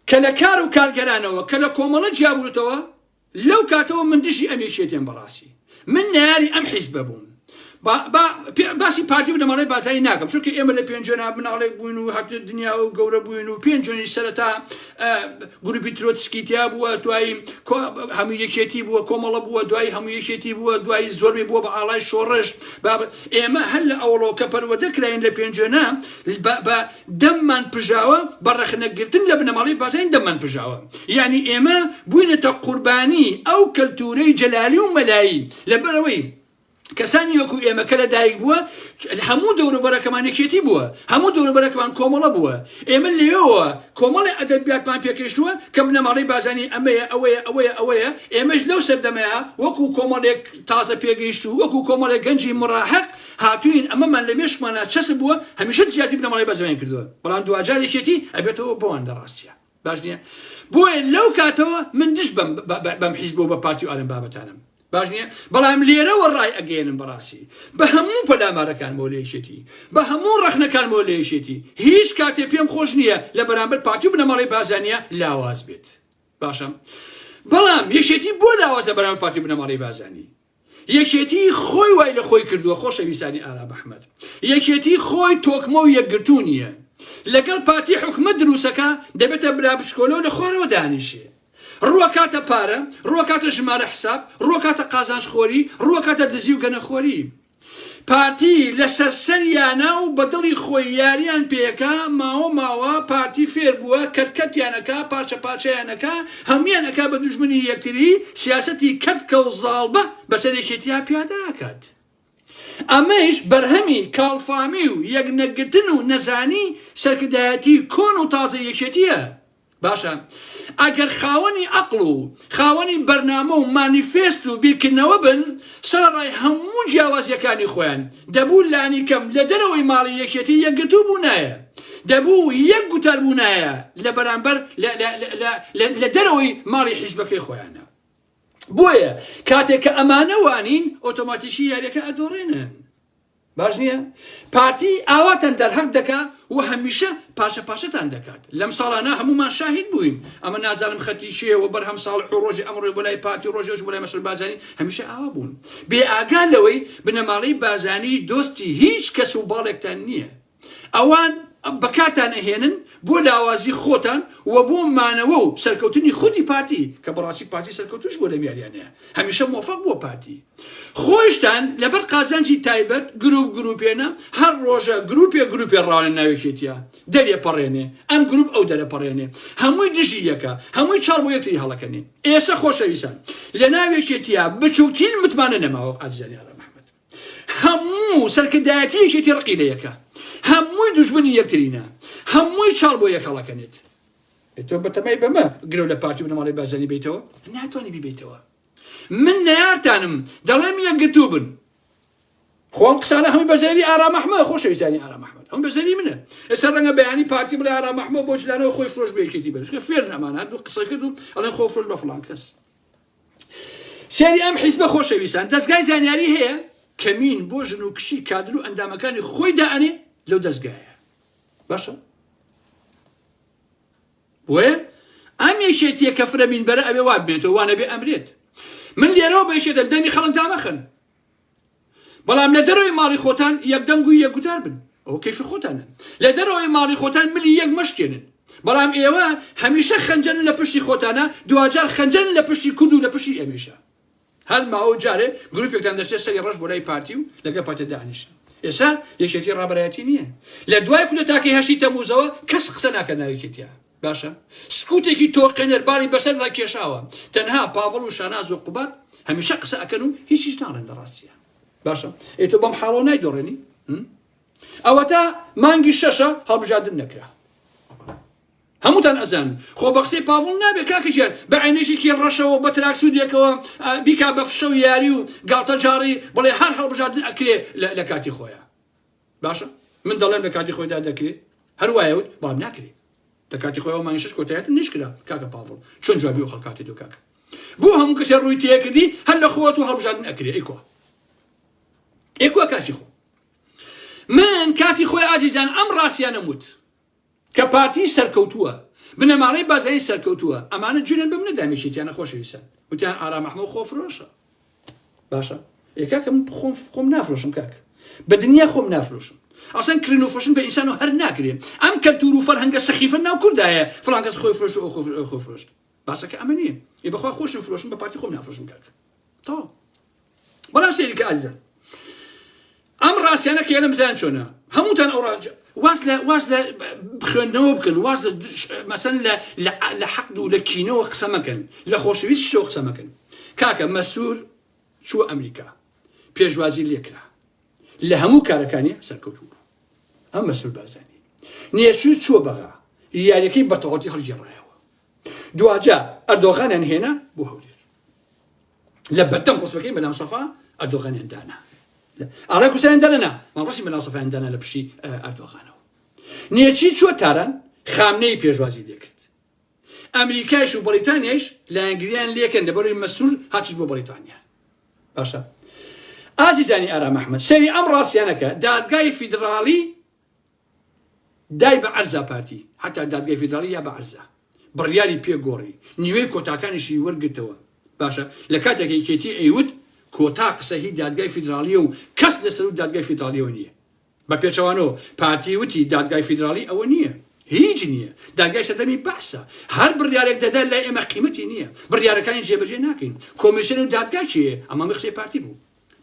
[SPEAKER 1] کە لە کار و کارگەرانەوە کە لە کۆمەڵە جیابووتەوە لەو کاتەوە من دژی ئەم یەکێتیم بەڕاستی. من نەیاری ئەم حیزبە بووم با با پێ- باسی پارتی و بنەماڵەی بارزانی ناکەم چونکە ئێمە لە پێنجوێنا مناڵێک بووین و هات دنیا و گەورە بووین و پێنجوێنی سەرەتا ئە، گروپی ترۆتسکی تیا بووە دوایی کۆ- هەموو یەکێتی بووە کۆمەڵە بووە دوایی هەموو یەکێتی بووە دوایی زۆربەی بووە بە ئاڵای شۆڕش باب ئێمە هەر لە ئەوەڵەوە کە پەروەردە کراین لە پێنجوێنا بە بە دەممان پژاوە بە ڕەخنە گرتن لە بنەماڵەی بارزانی دەممان پژاوە یانی ئێمە بوینەتە قوربانی ئەو کەلتورەی جەلالی و مەلایی لەبەر ئەوەی کەسانی وەکو ئێمە کە لە دایک بووە هەموو دەوروبەرەکەمان یەکێتی بووە هەموو دەوروبەرەکەمان کۆمەڵە بووە ئێمە لێەوە کۆمەڵی ئەدەبیاتمان پێکەشتووە کە بنەماڵەی بازانی ئەمەیە ئەوەیە ئەوەیە ئەوەیە ئێمەش لەو سەردەمەیە وەکو کۆمەڵێک تازە پێگەیشت و وەکو کۆمەڵێک گەنجی مڕاحق هاتووین ئەمەمان لە مێشکمانا چەسپ بووە هەمیشە زیاتری بنەماڵەی بەرزەوەیان کردووە بەڵام دواجار یەکێتی ئەبێتەوە بۆوان لە ڕاستیا باش نییە بۆیە لەو کاتەوە من دش بەم بەم حیزب و بە پارتی و ئارم بابەتانم باش نییە بەڵام لێرەوە ڕای ئەگەێنم بەڕاستی بە هەموو پەلامارەکان بۆ لێشێتی بە هەموو ڕەخنەکان بۆ لێشێتی هیچ کاتێ پێم خۆش نییە لە بەرامبەر پارتی و بنەماڵی بازانە لاواز بێت باشم بەڵام یەشێتی بۆ لاوازە بەرامبەر پارتی بنەماڵی بازانی یەکێتی خۆی وای لە خۆی کردووە خۆشەویسانی ئارام ئەحمەد یەکێتی خۆی تۆکمە و یەکگرتوو نییە لەگەڵ پارتی حکومە دروسەکە دەبێتە برا بچکۆلە و لە خوارەوە دانیشێ ڕووەکاتە پارە ڕووەکاتە ژمارە حساب ڕووەکاتە قازانج خۆری ڕووەکاتە دزی و گەنەخۆری پارتی لەسەر سەریانە و بە دڵی خۆی یاریان پێکا ماوە ماوە پارتی فێر بووە کەرت کەرتیان ئەکا پارچە پارچەیان ئەکا هەموویان ئەکا بە دوژمنی یەکتری سیاسەتی کەرت کەو زاڵبە بەسەر یەکێتیا پیادە ئەکات ئەمەیش بەرهەمی کاڵفامی و یەک نەگرتن و نەزانی سەرکردایەتی کۆن و تازەی یەکێتیە. باشە ئەگەر خاوەنی ئەقڵ و خاوەنی بەرنامە و مانیفێست و بیرکردنەوە بن سەرەڕای هەموو جیاوازیەکانی خۆیان دەبوو لانیکەم لە دەرەوەی ماڵی یەکێتی یەکگرتوو بوونایە دەبوو یەک گوتار بوونایە لە بەرامبەر لە دەرەوەی ماڵی حیزبەکەی خۆیانە بۆیە کاتێک کە ئەمانە وانین ئۆتۆماتیکی یاریەکە ئەدۆڕێنن باش نیە؟ پارتی ئاواتان دەرهەق دەکا و هەمیشە پاشە پاشەتان دەکات. لەم ساڵانە هەموومان شاهید بووین. ئەمە نازانم خەتی کێیە و بەرهەم ساڵح و ڕۆژی ئەمڕۆی بۆ لای پارتی و ڕۆژی ئەوشی بۆ لای مەسرور بارزانی هەمیشە ئاوا بوون. بێ ئاگا لەوەی بنەماڵەی بارزانی دۆستی هیچ کەس و باڵێکتان نیە. ئەوان بەکارتان ئەهێنن بۆ لاوازی خۆتان و بۆ مانەوە و سەرکەوتنی خودی پارتی کە بەڕاستی پارتی سەرکەوتوش بوە لەم یاریانەیە هەمیشە مۆفەق بوە پارتی خۆشتان لەبەر قازانجی تایبەت گروپ گروپێنە هەر ڕۆژە گروپێ گروپێ ڕاوێن ناوێکێتیە دەرێ پەڕێنێ ئەم گروپ ئەو دەرە پەڕێنێ هەمووی دژی یەکە هەمووی چاڵ بۆ یەکتری هەڵەکەنێ ئێسە خۆشەویسان لە ناوێکێتیە بچووکترین متمانە نەماوە ئازیزانی ئارام محمد هەموو سەرکردایەتی یەکێتی ڕقی لە یەکە هەمووی دوژمنی یەکترینە هەمووی چاڵ بۆ یەک هەڵەکەنێت تۆ بەتەمای بەمە گرەو لە پارتی بنەماڵی بازانی بیتەوە ناتوانانی بیبیتەوە من نەیارتانم دەڵێم یەکگرتوو بن خۆم قسانە هەمووی بەزێری ئارام ئەحمە خۆشەویستانی ئارام ئەحمد هەم بەزێری منە ئێستا ڕەنگە بەیانی پارتی بڵێ ئارام ئەحمە بۆ جلانەوە خۆی فرۆش بێکێتی بەشکە فێر نەمانە دوو قسە کرد و ئەڵێن خۆ فرۆش بە فڵان کەس سەیری ئەم حیزبە خۆشەویستان دەستگای زانیاری هەیە کەمین بۆ ژن و کچی کادر و ئەندامەکانی خۆی دائەنێ لەو دەستگایە باشە بۆیە ئەم یەکێتیە کە فرەمین بەرە ئەوێ وابێتەوە وانەبێ ئەمرێت من لێرەوە بەشێدەم دەمی خەڵک دامەخن بەڵام لە دەرەوەی ماڵی خۆتان یەک دەنگ و یەک گوتار بن ئەوە کەیفی خۆتانە لە دەرەوەی ماڵی خۆتان ملی یەک مەشکێنن بەڵام ئێوە هەمیشە خەنجەن لە پشتی خۆتانە دواجار خەنجەن لە پشتی کورد و لە پشتی ئێمەیشە هەر ماوە جارێ گروپێکتان دەچێت سەری ڕەش بۆ لای پارتی و لەگە پارتی دانیشن ئێسا یەکێتی ڕابەرایەتی نییە لە دوای کودەتاکەی هەشتی تەموزەوە کەس قسە ناکە ناویکێتیە باشە سکوتێکی تۆقێنەر باری بەسەر دا کێشاوە تەنها پاڤڵ و شاناز و قوباد هەمیشە قسە ئەکەن و هیچیش ناڵێن لە ڕاستیە باشە ئەی تۆ بەم حاڵۆ نایدۆڕێنی ئەوەتا مانگی شەشە هەڵبژاردن نەکرا هەمووتان ئەزان خۆ بە قسەی پاڤڵ نابێت کاکەژیان بە عینێژێکی ڕەشەوە بە تراکسودێکەوە بیکا بە فشە و یاری و گاڵتە جاڕی بڵێ هەر هەڵبژاردن ئەکرێ لە کاتی خۆیان باشە من دەڵێم لە کاتی خۆیدا دەکرێ هەر وایە وت بەڵام ناکرێ لە کاتی خۆیەوە مانگی شش کۆتایەت نش کرا کاکە پاڤڵ چۆن جوابی و خەڵکاتی دو کاکە بۆ هەموو کەسێ ڕووی تێکردی هەر لە خۆت و هەڵبژاردن ئەکرێ ئەی کوا ئەی کوا کاتی خۆ من کاتی خۆی ئازیزان ئەم ڕاستیانە وت کە پارتی سەرکەوتووە بنەماڵەی بازاین سەرکەوتووە ئەمانە جونن بم نەدام یەکێتیانە خۆشەویستان وتیان ئارام ئەحمەو خۆ فرۆشە باشە ئێ کاکە من خۆم خۆم نافرۆشم کاک بە دنیا خۆم نافرۆشم ئەسەن کرن و فشن بە ئینسان و هەر ناکرێ ئەم کەلتور و فەرهەنگە سەخیفە ناو کوردایە فڵان کەس خۆی فرۆش و ئەو خۆ فرۆشت باسەکە ئەمە نیە ی بەخوا خۆشم فرۆشم بە پارتی خۆم نافرۆشم کاکە تەواو بەڵام سێری کە ئازیزان ئەم ڕاستیانە کە لەم زیان چۆنە هەمووتان ئەو ڕاجە واز لە واز لە بخوێندنەوە بکەن واز لە مەسەن لە لە حەقد و لە کینەوە قسە مەکەن لە خۆشەویست شەوە قسە مەکەن کاکە مەسوور چووە ئەمریکا پێشوازی لێکرا لە هەموو کارەکانی سەرکەوتوو بوو ئەم مەسرور بارزانی نێچوو چووە بەغا یاریەکەی بەتەواتی هەڵگێڕایەوە دواجا ئەردۆغانیان هێنا بۆ هەولێر لە بەردەم ڕسمەکەی مەلام سەفا ئەردۆغانیان دانا ئاڕای کوردستان دەنا مەڕستی مەلام سەفایان دانا لە پشتی ئەردۆغانەوە نێچی چووە تاران خامنەی پێشوازی لێکرد ئەمریکایش و بەڕیتانیایش لایەنگریان لەکەن لەبەروی مەسرور هاتیش بۆ بەڕیتانیا باشە ئازیزانی ئارام ئەحمەد سەیری ئەم ڕاستیانەکە دادگای فیدراڵی دای بە عەرزا پارتی حتا دادگای فیدراڵی یا بە عەرزا بڕیاری پێگۆڕی نیوەی کۆتاکانیشی وەرگتەوە باشە لە کاتێک یەکێتی ئەیوت کۆتا قسە هی دادگای فیدراڵیە و کەس لەسەر و دادگای فیدراڵیەوە نییە بە پێچەوانەوە پارتی وتی دادگای فیدراڵی ئەوە نییە، هیچ نییە، دادگای سەردەمی بەعسە، هەر بڕیارێک دەدات لای ئێمە قیمەتی نییە، بڕیارەکانی جێبەجێ ناکەین، کۆمیسیۆن و دادگا کێیە؟ ئەمە قسەی پارتی بوو.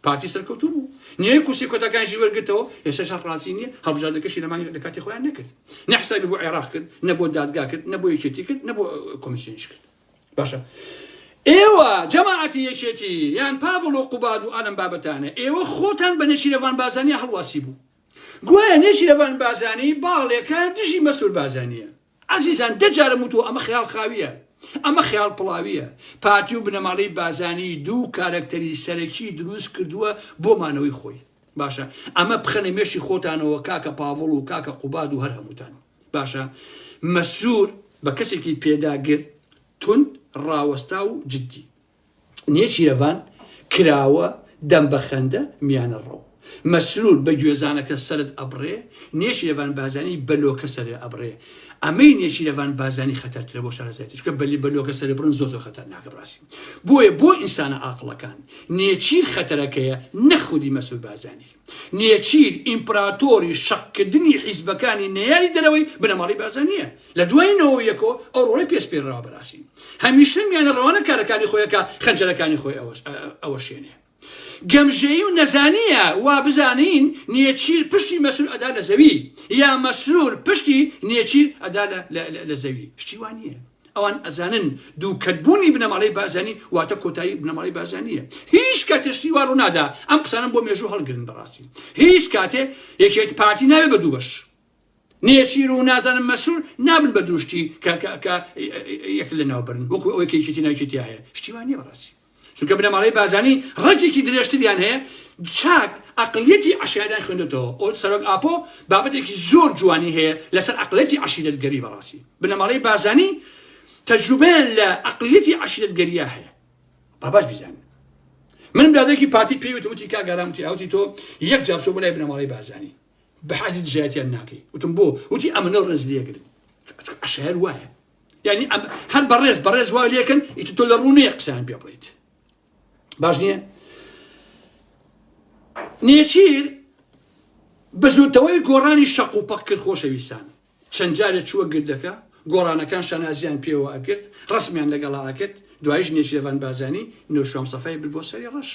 [SPEAKER 1] پارتی سەرکەوتوو بوو، نیوەی کورسی کۆتاکانیشی وەرگرتەوە، ئێستاش هەر ڕازی نییە، هەڵبژاردنەکەشی لە مانگی لە کاتی خۆیان نەکرد. نە حسابی بۆ عێراق کرد، نە بۆ دادگا کرد، نە بۆ یەکێتی کرد، نە بۆ کۆمیسیۆنیش کرد. باشە ئێوە جەماعەتی یەکێتی یان پاڤڵ و قوباد و ئەلم بابەتانە ئێوە خۆتان بە نێچیرەڤان بازانیا هەڵواسی بوو گوایە نێچیرەڤان بازانی باڵێکە دژی مەسور بازانیە ئازیزان دەجارم وتوە ئەمە خیاڵ خاویە ئەمە خیاڵ پڵاویە پارتی و بنەماڵەی بازانی دوو کارەکتەری سەرەکی دروست کردووە بۆ مانەوەی خۆی باشە ئەمە بخەنە مێشی خۆتانەوە کاکە پاڤڵ و کاکە قوباد و هەر هەمووتان باشە مەسرور بە کەسێکی پێداگر توند ڕاوەستا و جددی نێچیرەڤان کراوە دەم بە خەندە میانە ڕەو مەسرور بە گوێزانەکە سرت ئەبڕێ نێچیرەڤان بازانی بەلۆکە سەرێ ئەبڕێ ئەمەی نێچیرەڤان بارزانی خەتەرترە بۆ شارەزایەتی چونکە بەلی بە لۆکە سەربڕن زۆر زۆر خەتەرناکە بڕاستی بۆیە بۆ ئینسانە ئاقڵەکان نێچیر خەتەرەکەیە نە خودی مەسول بارزانی نێچیر ئیمپراتۆری شەقکردنی حیزبەکانی نەیاری دەرەوەی بنەماڵی بارزانیە لە دوای نەوە یەکۆ ئەو ڕۆڵی پێس پێراوە بەراسی هەمیشە میانە ڕەوانە کارەکانی خۆیەکە خەنجەرەکانی خۆی ئەوەش ئەوە شوێنێ گەمژەیی و نەزانییە وا بزانین نێچیر پشتی مەسرور ئەدا لە زەوی یا مەسرور پشتی نێچیر ئەدا لە زەوی شتی وا نییە ئەوان ئەزانن دووکەتبوونی بنەماڵەی بازانی واتە کۆتایی بنەماڵەی بازانیە هیچ کاتێشتی وا ڕوونادا ئەم قسانم بۆ مێژوو هەڵگرن بەڕاستی هیچ کاتێ یەکێت پارتی نابێ بە دوو بەش نێچیر و نازانم مەسرور نابن بە دوو شتی کە کە کە یەکتر لەناو بەرن وەکو ئەوەی کە یەکێتی ناو یەکێتی هەیە شتی وا نییە بەڕاستی چونکە بنەماڵەی بارزانی ڕەگێکی درێژتریان هەیە چاک عەقڵیەتی عەشایەریان خوێندۆتەوە ئەو سەرۆک ئاپۆ بابەتێکی زۆر جوانی هەیە لەسەر عەقڵیەتی عەشیرەتگەری بەڕاستی بنەماڵەی بارزانی تەجروبەیان لە عەقڵیەتی عەشیرەتگەریە هەیە باباش بیزانن من برادێکی پارتی پێی وتم وتی کاگەرام وتی ئەوتی تۆ یەک جار چۆ بۆ لای بنەماڵەی بارزانی بەحەزی دژایەتیان ناکەی وتم بۆ وتی ئەمە لەو ڕێز لێگرن عشار وایە یعنی ئەم هەر بەڕێز بەڕێز وا لێکن ئیت تۆ لە ڕوونەیە قسان پێ بڵیت باش نییە نێچیر بزوتەوەی گۆڕانی شەق و پەق کرد خۆشەویستان چەند جارێ چووە گردەکە گۆڕانەکان شانازیان پێوە ئەکرد ڕسمیان لەگەڵا ئەکرد دوایش نێچیرەوان بازانی نوشام سەفای بر بۆ سەری ڕەش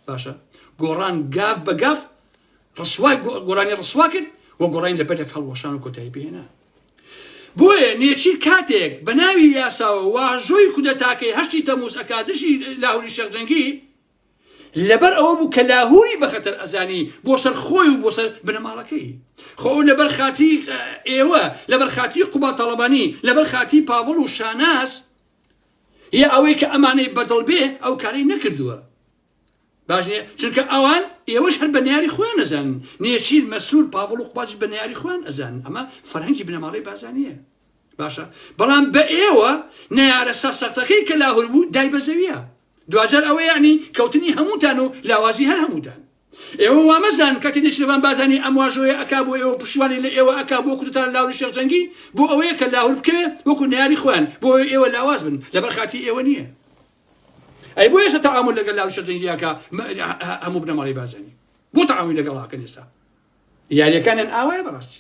[SPEAKER 1] باشە گۆڕان گاف بە گاف ڕسوای گۆرانی ڕسوا کرد و گۆڕانی لە بەردەک هەڵوەشان و کۆتایی پێێنە بۆیە نێچیر کاتێک بە ناوی یاساوە واژۆی کودەتاکەی هەشتی تەموز ئەکادشی لاهوری شەرجەنگی لەبەر ئەوە بوو کە لاهوری بە خەتەر ئەزانی بۆ سەر خۆی و بۆ سەر بنەماڵەکەی خۆ لەبەر خاتی ئێوە لەبەر خاتی قوبا تاڵەبانی لەبەر خاتی پاڤڵ و شاناس یە ئەوەی کە ئەمانەی بەدڵ بێ ئەو کارەی نەکردووە باش نیە چونکە ئەوان ئێوەش هەر بە نەیاری خۆیان ئەزانن نێچیر مەسرور پاڤڵ و قوبادش بە نەیاری خۆیان ئەزانن ئەمە فەرهەنگی بنەماڵەی بارزانیە باشە بەڵام بە ئێوە نەیارە سەرسەختەکەی کە لاهور بوو دای بە زەویە دواجار ئەوە یعنی کەوتنی هەمووتان و لاوازی هەر هەمووتان ئێوە وا مەزانن کاتێ نێچیرەڤان بارزانی ئەم واژۆیە ئەکا بۆ ئێوە پشتیوانی لە ئێوە ئەکا بۆ کودەتا لاهوری شێخ جەنگی بۆ ئەوەیە کە لاهور بکەوێ وەکو نەیاری خۆیان بۆ ئەوەی ئێوە لاواز بن لەبەر خاتری ئێوە نییە ئەی بۆ ئێستا تەعامول لەگەل لاهوری شێخ جەنگی ئەکا هەموو بنەماڵەی بارزانی بۆ تەعامولی لەگەڵ ئەکەن ئێستا یاریەکانیان ئاوایە بەڕاستی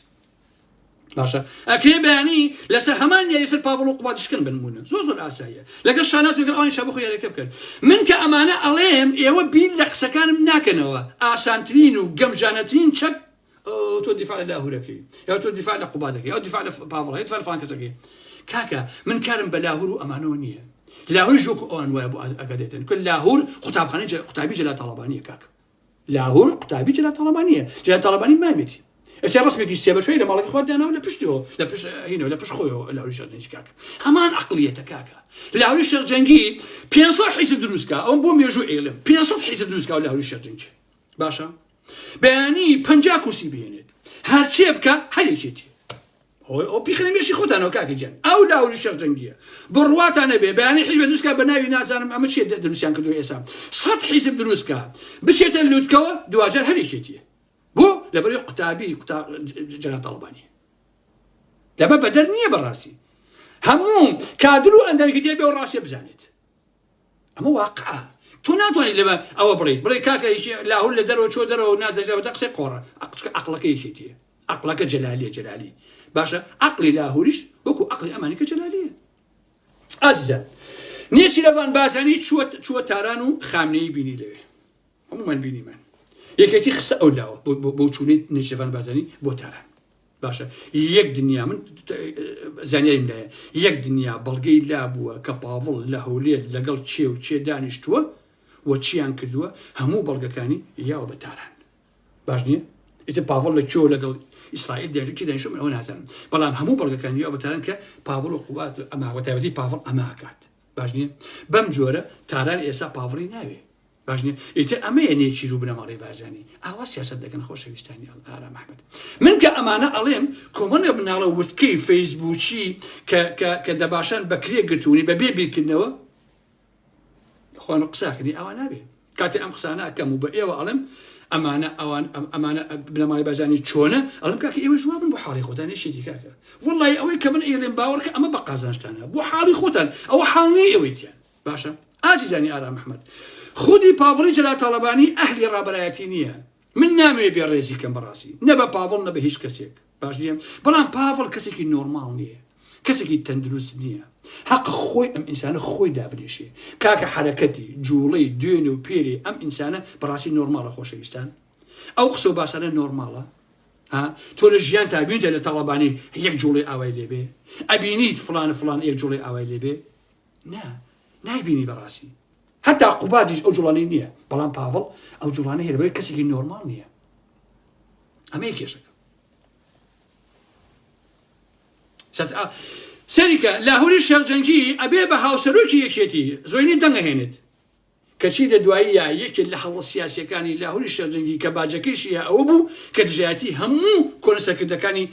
[SPEAKER 1] باشە ئەکرێ بەیانی لەسەر هەمان یاری سەر پاڤڵ و قوباد شکن بنمونە زۆر زۆر ئاساییە لەگەڵ شاناز وگەڵ ئەوانی شابۆ خۆ یاریەکە بکەن من کە ئەمانە ئەڵێم ئێوە بیر لە قسەکانم ناکەنەوە ئاسانترین و گەمژانەترین چەک تۆ دیفاع لە لاهورەکەی یا تۆ دیفاع لە قوبادەکەی یا دیفاع لە پاڤڵ یا دیفاع لە فلان کەسەکەی کاکە من کارم بە لاهور و ئەمانەوە نییە لاهور ژۆک ئەوان وایە بۆ ئەگەدێتن کە لاهور قوتابخانەی قوتابی جەلا تاڵەبانیە کاکە لاهور قوتابی جەلال تاڵەبانیە جەلال تاڵەبانی ماویەتی ئەسێ ڕسمێکی سێ بەشەی لە ماڵەکەی خۆت داناو لە پشتیەوە لە پشت هینەوە لە پشت خۆیەوە لاهوری شێخ جەنگی کاکە هەمان عەقڵیەتە کاکە لاهوری شێخ جەنگی 500 حیزب دروستکە ئەوم بۆ مێژوو ئێلم 500 حیزب دروستکە و لاهوری شێخ جەنگی باشە بەیانی پەنجا کورسی بهێنێت هەرچێ بکە هەرێکێتی ئەوەی ئەو پیخنە مێشی خۆتانەوە کاکە گیان ئەو لاوری شەخ جەنگیە بڕواتان نەبێ بەیانی حیزب دروستکە بە ناوی نازانم ئەمە چێ دروستیان کردو ئێسا سەد حیزب دروستکە بچێتە لوتکەوە دواجار هەرێکێتیە بۆ لەبەر قوتابی جەنا تاڵبانی لەبە بەدەر نییە بەڕاستی هەموو کادر و ئەندەرگی دێ بێ و ڕاستێ بزانێت ئەمە واقعە تۆ ناتوانیت لەمە ئەوە بڵێ بڵێ کاکە لاهور لە دەرەوە چۆ دەرەوە نازەژەوە دە قسەی قۆڕە ئەقچکە ئەقلەکە یەکێتیە ئەقلەکە جەلالیە جەلالی باشە ئەقلی لاهوریش وەکو ئەقلی ئەمانەکە جەلالیە ئازیزان نێچی لەوان بازانی چوە چوە تاران و خامنەی بینی لەوێ هەمومان بینیمان یەکێتی خستە ئەو لاوە بۆ چوونیت نێچەفان بازانی بۆ تاران باشە یەک دنیا من زانیاریم لایە یەک دنیا بەڵگەی لابووە کە پاڤڵ لە هەولێر لەگەڵ کێ و کێ دانیشتووە و چیان کردووە هەموو بەڵگەکانی یاوە بە تاران باش نییە ئیتە پاڤڵ لە کێوە لەگەڵ ئیسرائیل دەرکی دانیشم ئەوە نازانم بەڵام هەموو بەڵگەکان یاوە بە تاران کە پاڤڵ و قوات ئەماوە تایبەتی پاڤڵ ئەماکات باش نییە بەم جۆرە تاران ئێسا پاڤڵی ناوێ باش نیە ئیتر ئەمەیە نێچیر و بنەماڵەی بارزانی ئاوا سیاسەت دەکەن خۆشەویستانی ئەڵ ئارام ئەحمەد من کە ئەمانە ئەڵێم کۆمەڵێ بناڵە وتکەی فەیسبووکی کە کە کە دەباشان بە کرێ گرتوونی بە بێ بیرکردنەوە خوان و قساکردی ئەوان نابێ کاتێ ئەم قسانە ئەکەم و بە ئێوە ئەڵم ئەمانە ئەوان ئەمانە بنەمای بەزانی چۆنە ئەڵم کاکە ئێوە جواب من بۆ حاڵی خۆتان نشێتی کاکە وڵی ئەوەی کە من ئێڵێن باوەڕکە ئەمە بە قازانشتانە بۆ حاڵی خۆتان ئەوە حاڵی ئەوەیتیان باشە ئازیزانی ئارام احمد خودی پاڤڵی جەلال تاڵەبانی ئەهلی ڕابەرایەتی نییە من نامەوێ بێ ڕێزی کەم بەڕاستی نە بە پاڤڵ نە بە هیچ کەسێک باش نییە بەڵام پاڤڵ کەسێکی نۆرماڵ نییە کەسێکی تەندروست نییە حەق خۆی ئەم ئینسانە خۆی دابنیشێ کاکە حرەکەتی جوڵەی دوێن و پێری ئەم ئینسانە بەڕاستی نۆرماڵە خۆشەویستان ئەو قسە و باسانە نۆرماڵە تۆ لە ژیان تابیونتە لە تاڵەبانی یەک جوڵی ئاوای لێبێ ئەبینیت فلان فلان یەک جوڵی ئاوای لێبێ نا نایبینی بەڕاستی هەتا قوبادیش ئەو جوڵانی نییە بەڵام پاڤڵ ئەو جوڵانە هێرەوەی کەسێکی نۆرمال نییە ئەمە کێشەکە سەریکە لاهوری شێخجەنگی ئەبێ بە هاوسەرۆکی یەکێتی زۆینی دەنگهێنێت کەچی لە دوایی یا یەکێک لە هەڵە سیاسەکانی لاهوری شێخجەنگی کە باجەکەیشی ئەوە بوو کە دژایەتی هەموو کۆنسەکردەکانی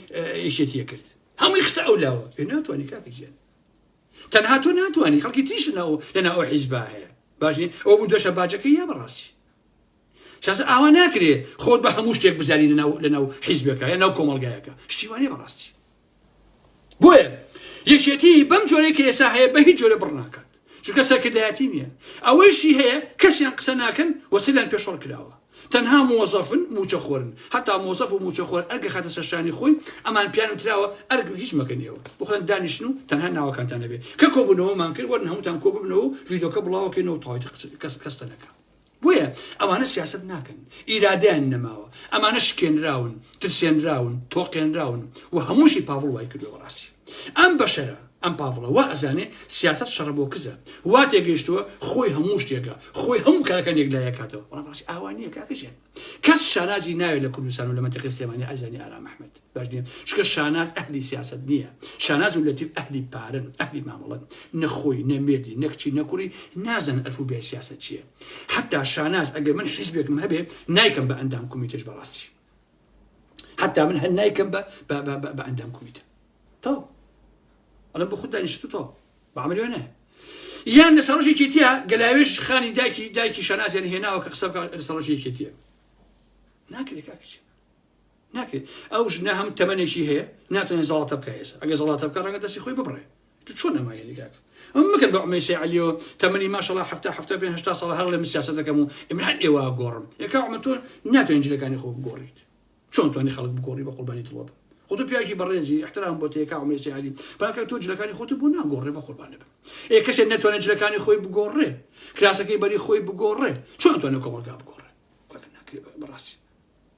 [SPEAKER 1] یەکێتیە کرد هەمووی خستە ئەو لاوە ناتوانانی کاکە گیان تەنها تۆ ناتوانانی خەڵکی تریش ناو لەنا ئەو حیزبا هەیە باش نیە ئەو بوو دەشە باجەکە یا بەڕاستی شاز ئاوا ناکرێ خۆت بە هەموو شتێک بزانی لەناو لەناو حیزبەکە یا ناو کۆمەلگایەکە شتیوانێ بەڕاستی بۆیە یەکێتی بەم جۆرەی کە ئێسا هەیە بە هیچ جۆرە بڕناکات چونکە سەرکردایەتی نییە ئەوەیشی هەیە کەسیان قسە ناکەن وەسیلیان پێشڕ کراوە تەنها مۆزەفن موچە خۆرن هەتا مۆزەف و موچە خۆر ئەرگە خاتە سەر شانی خۆی ئەمان پیان وتراوە ئەرگ هیچ مەکەن ئێوە بخۆن دانیشن و تەنها ناوەکانتان نەبێ کە کۆبونەوەمان کرد وەرن هەمووتان کۆ ببنەوە و ڤیدۆکە بڵاوەکەینەوە تەواوی کەس کەستە نەکە بۆیە ئەوانە سیاست ناکەن ئیرادیان نەماوە ئەمانە شکێنراون ترسێنراون تۆقێنراون و هەمووشی پاڤڵ وای کردو بەڕاستی ئەم بەشەرە، ئەم پاڤڵە وا ئەزانێ سیاسەت شەڕە بۆ کزە، وا تێگەیشتووە خۆی هەموو شتێکە، خۆی هەموو کارەکان یەکلایی ئەکاتەوە، بەڵام ڕاستی ئاوا نییە کاکە ژیان. کەس شانازی ناوێ لە کوردستان و لە مەنتیقەی سلێمانی ئەزانێ ئارام ئەحمەد باش نییە، چونکە شاناز ئەهلی سیاسەت نییە، شاناز و لەتیف ئەهلی پارەن، ئەهلی مامەڵەن، نە خۆی، نە مێردی، نە کچی، نە کوڕی نازانن ئەلف و بێی سیاسەت چییە. حەتتا شاناز ئەگەر من حیزبێکم هەبێ نایکەم بە ئەندام کومیتەیش بەڕاستی. حتى من هەر نایکەم بە ئەندام کومیتە تەو ئەڵم بە خود دانیشت تۆ بەعملیۆ نە یان لە سەڕۆژێکی تیا گەلاوێش خانی داکی دایکی شەنازیان هێناوە کە قسە سەڕۆژێکی تە ناکرێت کاکچێ ناکرێت ئەو ژنە هەم تەمەێکی هەیە ناتوانێت زڵاتە بکە ئێستا ئەگە زڵاتە بکە ڕەنگە دەستی خۆی ببڕێ تو چۆن ئەمە هێلی کاکە؟ ئەم مەکە بە عمەیسەی عەلیەوە تەمەنی ماشەڵا حەفتا حەفتا پێنج هەشتا ساڵە هەر ڵێ من سیاسەت دەکەم و ئێمە هەر ئێوە گۆڕم یەکا عمە تۆ ناتوانین جلەکانی خۆ بگۆڕیت چۆن توانی خەڵک بگۆڕی بە قوربانی دڵۆ بم خۆ تۆ پیاوێکی بەڕێزی احترام بۆ تێکا عمەیسەی عەلی پاکە تۆ جلەکانی خۆت بۆ ناگۆڕێ بە قوربانە بم ئێ کەسێک ناتوانێت جلەکانی خۆی بگۆڕێ کراسەکەی بەری خۆی بگۆڕێ چۆن توانێت کۆمەڵگا بگۆڕێ بەڕاستی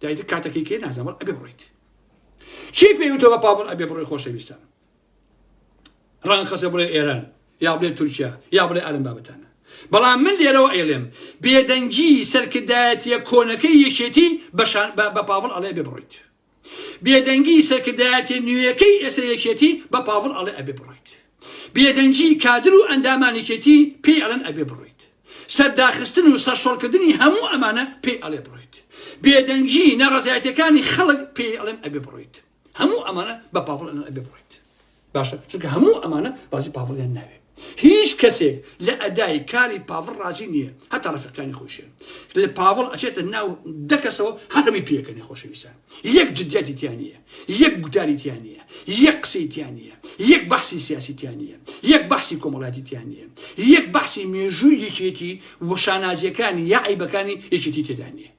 [SPEAKER 1] دایتر کاتەکەی کەی نازەمەڵ ئەبێ بڕیت چی پێوتە بە پاڤڵ ئەبێ بڕۆی خۆشەویستان ڕان خەسە بڵێ ئێران یا بڵێ تورکیا یا بڵێ ئەرم بابەتانە بەڵام من لێرەوە ئەیڵێم بێدەنگی سەرکردایەتیە کۆنەکەی یەکێتی بە پاڤڵ ئەڵێ بێ بڕیت بێدەنگی سەرکردایەتی نوێیەکەی ئێسە یەکێتی بە پاڤڵ ئەڵێ ئەبێ بڕیت بێدەنگی کادر و ئەندامان یەکێتی پێی ئەڵێن ئەبێ بڕۆیت. سەرداخستن و سەرشۆڕکردنی هەموو ئەمانە پێی ئەڵێ بڕۆیت. بێدەنگی ناڕەزایەتیەکانی خەڵک پێی ئەڵێن ئەبێ بڕۆیت. هەموو ئەمانە بە پاڤڵ ئەڵێن ئەبێ بڕۆیت. باشە چونکە هەموو ئەمانە بازی پاڤڵیان ناوێ. هیچ کەسێک لە ئەدای کاری پاڤڵ ڕازی نییە هەتا ڕەفیقەکانی خۆشیان. لە پاڤڵ ئەچێتە ناو دەکەسەوە هەرمی پێکەنێ خۆشەویستان. یەک جدیەتی تیا نییە، یەک گوتاری تیا نییە، یەک قسەی تیا نییە، یەک بەحسی سیاسی تیا نییە، یەک بەحسی کۆمەڵایەتی تیا نییە، یەک بەحسی مێژووی یەکێتی و شانازییەکانی یا عەیبەکانی یەکێتی تێدا نییە.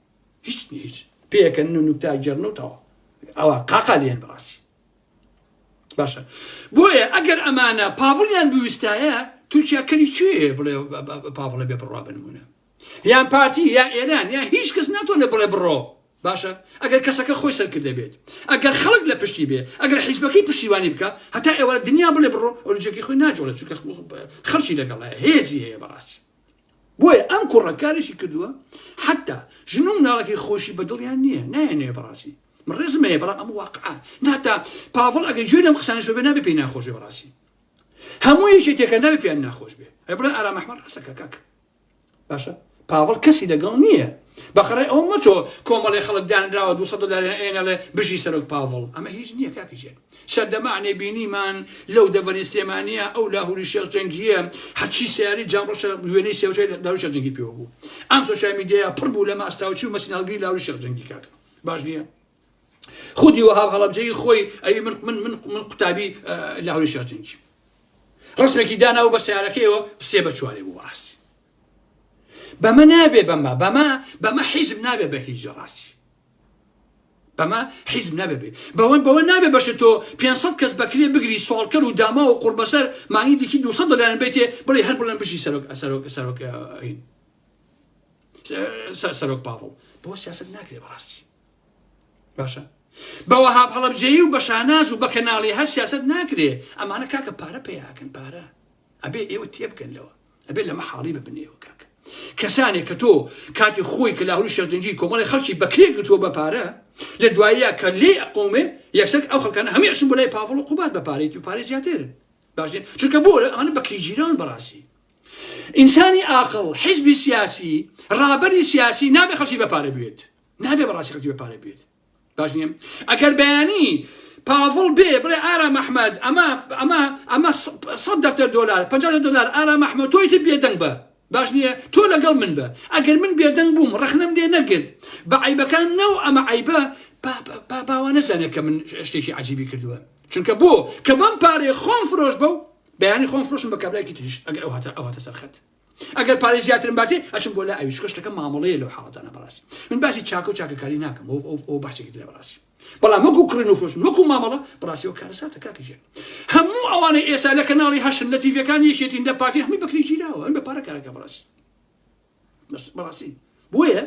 [SPEAKER 1] هیچ نییە هیچ. پێکەنن و نوکتە ئەگێڕن و تەواو. ئەوە قاقا لێن بەڕاستی. باشە بۆیە ئەگەر ئەمانە پاڤڵیان بویستایە تورکیا کەری کوێ بڵێ پاڤڵە بێ بڕوا بنمونە یان پارتی یا ئێران یا هیچ کەس ناتوانێت بڵێ بڕۆ باشە ئەگەر کەسەکە خۆی سەرکردە بێت ئەگەر خەڵک لە پشتی بێ ئەگەر حیزبەکەی پشتیوانی بکە هەتا ئێوە دنیا بڵێ بڕۆ ئۆلجێکی خۆی ناجۆڵێت چونکە خەڵکی لەگەڵ هێزی هەیە بەڕاستی بۆیە ئەم کوڕەکارێکی کردووە حتا ژن و مناڵەکەی خۆشی بەدڵیان نییە نایەنێ بەڕاستی من ڕێزم هەیە بەڵام ئەم واقع ناتا پاڤڵ ئەگە گوێ لەم قسانش بە نابێ پێی ناخۆشێ بەڕاستی هەموو یەکێ تێکەندا پێیان ناخۆش بێ ئەی بڵێ ئارام ئەحمەد ڕاستەکە کاکە باشە پاڤڵ کەسی لەگەڵ نییە بەخڕێ ئەو مەچۆ کۆمەڵی خەڵک دانراوە دو دلار ئێنەڵێ بژی سەرۆک پاڤڵ ئەمە هیچ نییە کاکیژێن سەردەمانێ بینیمان لەو دەڤەری سلێمانە ئەو لاهوری شێخ جەنگیە هەچی سیاری جاڕۆشە وێنەی سێوچەی لاوری شێخ جەنگی پێوە بوو ئەم سۆشیال میدیایا پڕ بوو لە ماستاوچی و مەسیناڵگری لاوری شێخ جەنگی کاکە باش نییە خودی وەهاب هەڵەبجەیی خۆی ئەوی من من من من قوتابی لاهوری شێرجەنگی ڕسمێکی دانا و بە سیارەکەیەوە پسێ بە چوارێ بوو ڕاستی بەمە نابێ بەمە بەمە بەمە حیزم نابێ بە هیچ ڕاستی بەمە حیزم نابێ بەوەن بەوە نابێ بەش تۆ 500 کەس بەکرێ بگری سوالکەر و داما و قوربەسەر مانگی دیکی 200 دلار بێتێ بڵێ هەر بڵێن بژی سەرۆک سەرۆک سەرۆک سەرۆک پاڵ بۆ سیاست ناکرێ بەڕاستی باشە بە وەهاب هەڵەبجەیی و بە شاناز و بە کەناڵی هەر سیاست ناکرێ ئەمانە کاکە پارە پێیاکەن پارە ئەبێ ئێوە تێبگەن لەوە ئەبێ لەمە حاڵی ببنێەوە کاکە کەسانێک کە تۆ کاتی خۆی کە لاهوری شەرجنجی کۆمەڵی خەڵکی بەکرێ گرتووە بە پارە لە دوایە کە لێ ئەقومێ یەکسەر ئەو خەکانە هەمیشن بۆ لای پاڤڵ و قوبات بە پارێتی و پارێ زیاتر باشێ چونکە بۆ ئەمانە بەکری گیران بەڕاستی ئینسانی ئاقل حزبی سیاسی ڕابەری سیاسی نابێ خەڵکی بە پارە بێت نابێ بە ڕاستی خەڵکی بە پارە بوێت باش نییە ئەگەر بەیانی پاڤڵ بێ بڵێ ئارا مەحمەد ئەمە ئەمە ئەمە سەد دەفتەر دۆلار پ دۆلار ئارا مەحمە تۆی تر بێدەنگ بە باش نییە تۆ لەگەڵ من بە ئەگەر من بێدەنگ بووم ڕخنم لێ نەگرت بە عیبەکان نەو ئەمە عیبە باوا نەزانێت کە من شتێکی عجیبی کردووە چونکە بۆ کە بەم پارێ خۆم فرۆش بە و بەیانی خۆم فرۆشم بە کابراکی تریش ئەگەر ئەو هاتە ئەو هاتە سەرخەت ئەگەر پارەی زیاترم باتێ ئەچم بۆ لای ئەوی چونکە شتەکە مامەڵەیە لەو حاڵەتانە بەڕاستی من باسی چاکە و چاکەکاری ناکەم ئەو ئەو ئەو بەحسێکی ترە بەڕاستی بەڵام وەکو کڕین و فرۆشتن وەکو مامەڵە بەڕاستیەوە کارەساتە کاکە ژێر هەموو ئەوانەی ئێستا لە کەناڵی هەشتن لە تیڤەکان یەکێتین لە پارتی هەمووی بەکرێ گیراوە ئەم بە پارە کارەکە بەڕاستی بەس بەڕاستی بۆیە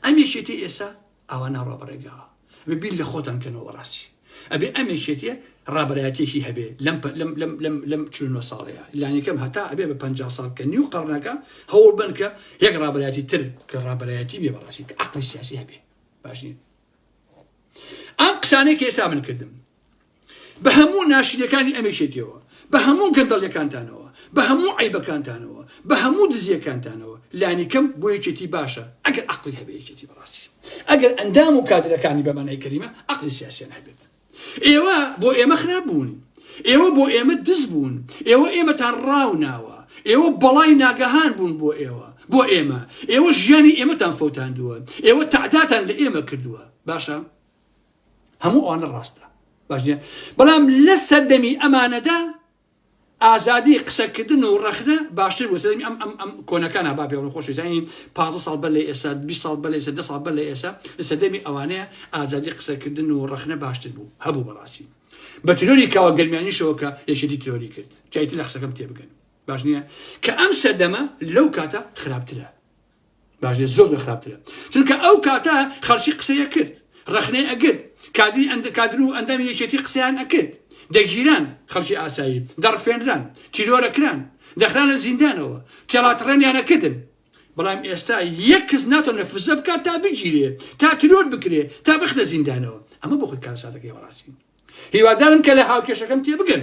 [SPEAKER 1] ئەم یەکێتی ئێستا ئاوا ناڕوا بەڕێگاوە ئەبێ بیر لە خۆتان بکەنەوە بەڕاستی ئەبێ ئەم یەکێتیە ڕابەرایەتێکی هەبێ لەم لەم لەم لەم لەم چل و نۆ ساڵەیە لانیکەم هەتا ئەبێ بە پەنجا ساڵ کە نیو قەڕنەکە هەوڵ بن کە یەک ڕابەرایەتی تر کە ڕابەرایەتی بێ بەڕاستی کە عەقڵی سیاسی هەبێ باش نیە ئەم قسانەی کە ئێستا من کردم بە هەموو ناشرینەکانی ئەم یەکێتیەوە، بە هەموو گەندەڵیەکانتانەوە، بە هەموو عەیبەکانتانەوە، بە هەموو دزیەکانتانەوە، لانیکەم بۆ یەکێتی باشە ئەگەر عەقڵی هەبێ یەکێتی بەڕاستی ئەگەر ئەندام و کادرەکانی بە مانای کەلیمە عەقڵی سیاسیان هەبێت. ئێوە بۆ ئێمە خراپ بوون، ئێوە بۆ ئێمە دز بوون، ئێوە ئێمەتان ڕاو ناوە، ئێوە بەڵای ناگەهان بوون بۆ ئێوە، بۆ ئێمە، ئێوە ژیانی ئێمەتان فەوتاندووە، ئێوە تەعداتان لە ئێمە کردووە، باشە. هەموو ئەوانە ڕاستە باش نیە بەڵام لە سەردەمی ئەمانەدا ئازادی قسەکردن و ڕەخنە باشتر بوو سەردەمی ئەم ئەم ئەم کۆنەکانە با پێوەن خۆشیزانی 15 ساڵ بەر لە ئێستا 20 ساڵ بەر لە ئێستا 10 ساڵ بەر لە ئێستا لە سەردەمی ئەوانەیە ئازادی قسەکردن و ڕەخنە باشتر بوو هەبوو بەڕاستی بە ترۆری کاوە گەرمیانیشەوە کە یەکێتی ترۆری کرد جایتی لە قسەکەم تێبگەن باش نییە کە ئەم سەردەمە لەو کاتە خراپترە باش بێت زۆر زۆر خراپترە چونکە ئەو کاتە خەڵکی قسەی ئەکرد ڕەخنەی ئەگرت کادری ئەند کادر و ئەندامی یەکێتی قسەیان ئەکرد دەگیران خەڵکی ئاسایی دەڕفێنران تیرۆرەکران دەخرانە زیندانەوە تێڵاتڕێنیان ئەکردن بەڵام ئێستا یەک کەس ناتوانێت فزە بکات تا بگیرێ تا ترۆر بکرێ تا بخدە زیندانەوە ئەمە بۆ خۆی کارساتەکەی بەڕاستی هیوادارم کە لە هاوکێشەکەم تێبگەن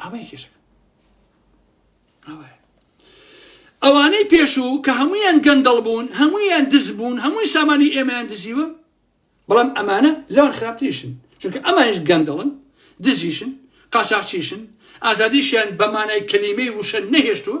[SPEAKER 1] ئەوەیە کێشەکە ئەوەیە ئەوانەی پێشوو کە هەمویان گەندەڵ بوون هەمویان دز بوون هەمووی سامانی ئێمەیان دزیوە بەڵام ئەمانە لەوان خراپتریشن چونکە ئەمانش گەندەڵن دزیشن قاچاقچیشن ئازادیشیان بەمانای کەلیمەی وشە نەهێشتووە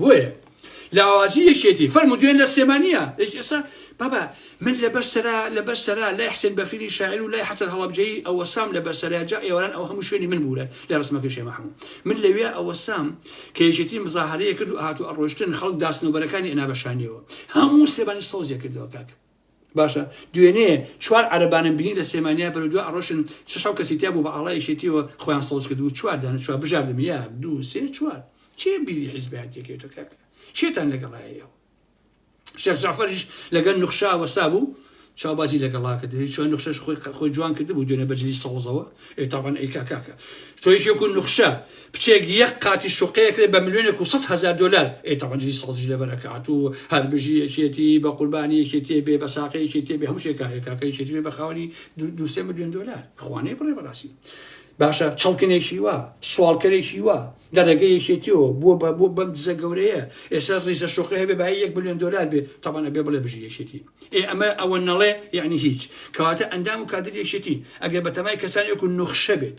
[SPEAKER 1] بۆیە لاوازی یەکێتی فەرمو دوێن لە سلێمانیە ئێستا بابا من لەبەر سەرا لەبەر سەرا لای حسێن بەفری شاعر و لای حەسەن هەڵبجەی ئەوە سام لەبەر سەرا جا ئێواران ئەو هەموو شوێنی من بوورە لە ڕسمەکە شێ محمود من لەوێ ئەوە سام کە یەکێتی مزاهرەیە کرد و هاتو ئەڕۆشتن خەڵک داسنەوبەرەکانی ئەنا بەشانیەوە هەموو سێبانی سەوزێ کردەوە کاک باشە دوێنێ چوار عەرەبانم بینی لە سێمانیا بەرەو دو ئەڕۆشن شش حەو کەسی تیا بوو بە ئاڵای یەکێتیەوە خۆیان سەوز کردبوو چوار دانە چوار بژاردم یەک دوو سێ چوار کێ بیری حیزبایەتیەکەی تۆ کاکە کێتان لەگەڵایە ئێوە شێخ جعفەریش لەگەل نوخشا وەسا بوو چاوبازی لەگەڵا کرد چۆن نوخشەش خۆی خۆی جوان کرد بوو دوێنە بەجلی سەوزەوە ئێتاوان ئەی کاکاکە تۆیشێکو نوخشە کچێک یەک قاتی شوقەیە کرێ بە ملیۆنێک و سەد هەزار دۆلار ئەی تەبعەن جلی سەوزیش لەبەر ئەکات و هەر بژی یەکێتی بە قوربانی یەکێتیێ بێ بە ساقە یەکێتیێ بێ هەموو شێکارێک کاکە یەکێتی بێ بە خاوەنی دو- دوو سێ ملیۆن دۆلار خوانێ بڕێ بەڕاستی باشە چڵکنێکی وا سوالکەرێکی وا لە ڕێگە یەکێتیەوە بۆ بە بۆ بەم دزە گەورەیە ئێستا ڕیزە شوقی هەبێ بای یەک ملیۆن دۆلار بێ تەبانە بێ بڵێ بژی یەکێتی ئێ ئەمە ئەوە نەڵێ یعنی هیچ کەواتە ئەندام و کادر یەکێتی ئەگەر بە تەمای کەسانێک و نوخشە بێت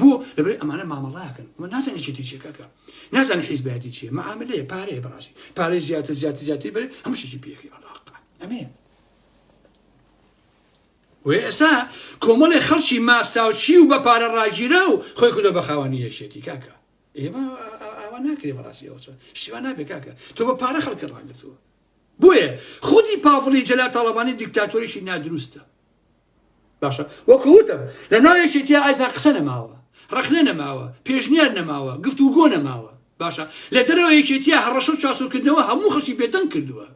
[SPEAKER 1] بۆ؟ لەبەرەی ئەمانە مامەڵەکەن ئەمە نازانێت چێتی چیە کاکە نازانێت حیزبایەتی چیە مەعاملەیە پارەیە بەڕاستی پارەی زیاتر زیاتر زیاتری بەرێ هەموو شتێکی پێخی بەڵاقا ئەمێ وێسا کۆمەڵی خەڵکی ماستاوچی و بە پارە ڕاگیرە و خۆی کردە بە خاوەنی یەکێتی کاکە ئێمە ئاوا ناکرێ بەڕاستی ئەوچە شتیوان نابێ کاکە تۆ بە پارە خەڵکە ڕاگرتووە بۆیە خودی پاڤڵی جەلا تاڵەبانی دیکتاتۆریشی نادروستە باشە وەکو وتم لەناو یەکێتیە ئازان قسە نەماوە ڕەخنە نەماوە پێشنیار نەماوە گفتوگۆ نەماوە باشە لە دەرەوە یەکێتیە هەڕەشە و چاسۆکردنەوە هەموو خەڵکی بێدەنگ کردووە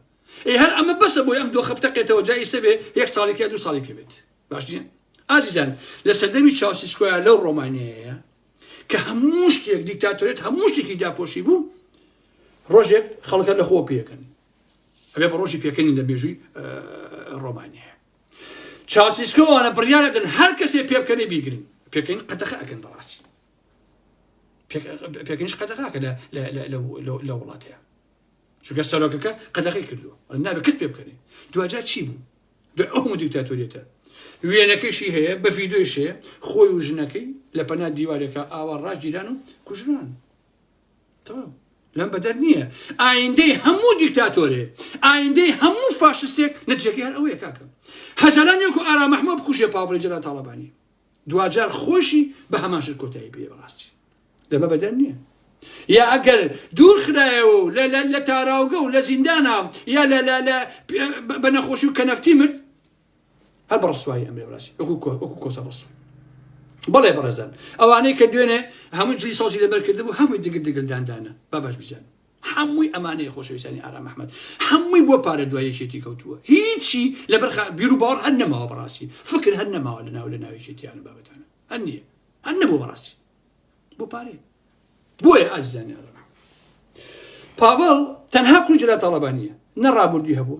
[SPEAKER 1] ئێ هەر ئەمە بەسە بۆی ئەم دۆخە بتەقێتەوە جا ئیسە بێ یەک ساڵی کە دوو ساڵی کە بێت باش نیە ئازیزان لە سەردەمی چاوسیسکۆیان لەو ڕۆمانیەیە کە هەموو شتێک دیکتاتۆرێت هەموو شتێکی داپۆشی بوو ڕۆژێک خەڵکە لە خۆ پێکن ئەبێ بە ڕۆژی پێکەنی لە مێژووی ڕۆمانیە چاسیسکۆوانە بڕیارەدن هەر کەسێ پێ بکەنێ بیگرن پێکەین قەتەخە ئەکەن بەڕاستی پێکەنیش قەتەخاکە لە وڵاتەیە چونکە سەرۆکەکە قەدەخی کردو نابێت کەس پێ بکەنێ دواجار چی بوو دو ئەو دیکتاتۆریێتە وێنەکەشی هەیە بە فیدۆیش هەیە خۆی و ژنەکەی لە پەنا دیوارێکە ئاوا ڕاژگیران و کوژران تەواو لەم بەدەر نییە ئایندەی هەموو دیکتاتۆرێ ئایندەی هەموو فاشستێک نەتیجەکەی هەر ئەوەیە کاکە هەزاران یەک و ئارا مەحموە بکوژێ پاڤڵی جەلال تاڵەبانی دواجار خۆشی بە هەماشر کۆتایی پێ بەڕاستی لەمە بەدەر نییە یا ئەگەر دوور خرایەوە و لە تاراوگە و لە زیندانا یا لە بە نەخۆشی و کەنەفتی مرد هەر بە ڕسوایی ئەمێ بڕاسی وەکو کۆسە ڕسوو بەڵێ بەڕێزان ئەوانەی کە دوێنێ هەموو جلی سازی لەبەر کردبوو هەمووی دگل دگلداندانە بابش بزان هەمووی ئەمانەیە خۆشەویستانی ئارام محمد هەمووی بۆ پارە دوایەکێتی کەوتووە هیچی لەبەر بیر و باوەڕ هەر نەماوە بەڕاستی فکر هەر نەماوە لە ناو لە ناوێکێتیان بابەتانە هەر نییە هەر نەبوو بەڕاستی بۆ پارەیە بۆیە ئازیزانیان ڕەنا پاڤڵ تەنها کوڕی جەلال تاڵەبانیە نە ڕابوردی هەبوو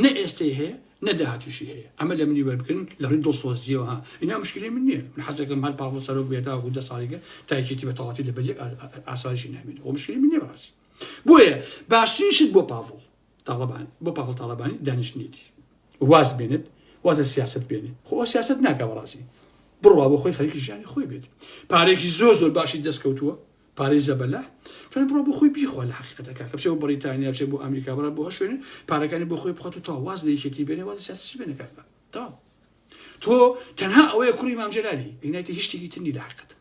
[SPEAKER 1] نە ئێستەی هەیە نە داهاتوشی هەیە ئەمە لە منی وەربگرن لە ڕووی دڵسۆزیەوە ها اینا مشکلی من نییە من حەزەکەم هەر پاڤڵ سەرۆک بێت تاوەکو دە ساڵیگە تایکێتی بە تەواتی لە بەریەک ئاسایشی نامێنێت و مشکلی من نییە بەڕاستی بۆیە باشترین شت بۆ پاڤڵ تاڵەبانی بۆ پاڤڵ تاڵەبانی دانیشتنێتی واز بێنێت واز لە سیاست بێنێ خۆ ئەو سیاست ناکە بەڕاستی بڕوا بۆ خۆی خەریکی ژیانی خۆی بێت پارێکی زۆر زۆر باشی دەستکەوتووە پارەی زەبەلا توانێت بڕۆ بۆ خۆی بیخوا لە حقیقەتەکە کە بچێ بۆ بەریتانیا بچێ بۆ ئەمریکا بڕە بۆ هەشوێنێ پارەکانی بۆ خۆی بخات و تا واز لە یەکێتی بێنێ واز سیاسی بێنە کاکە تاو تۆ تەنها ئەوەیە کوڕی مامجلالی ئینایتی هیچ شتێکی تر نی لە حقیقەت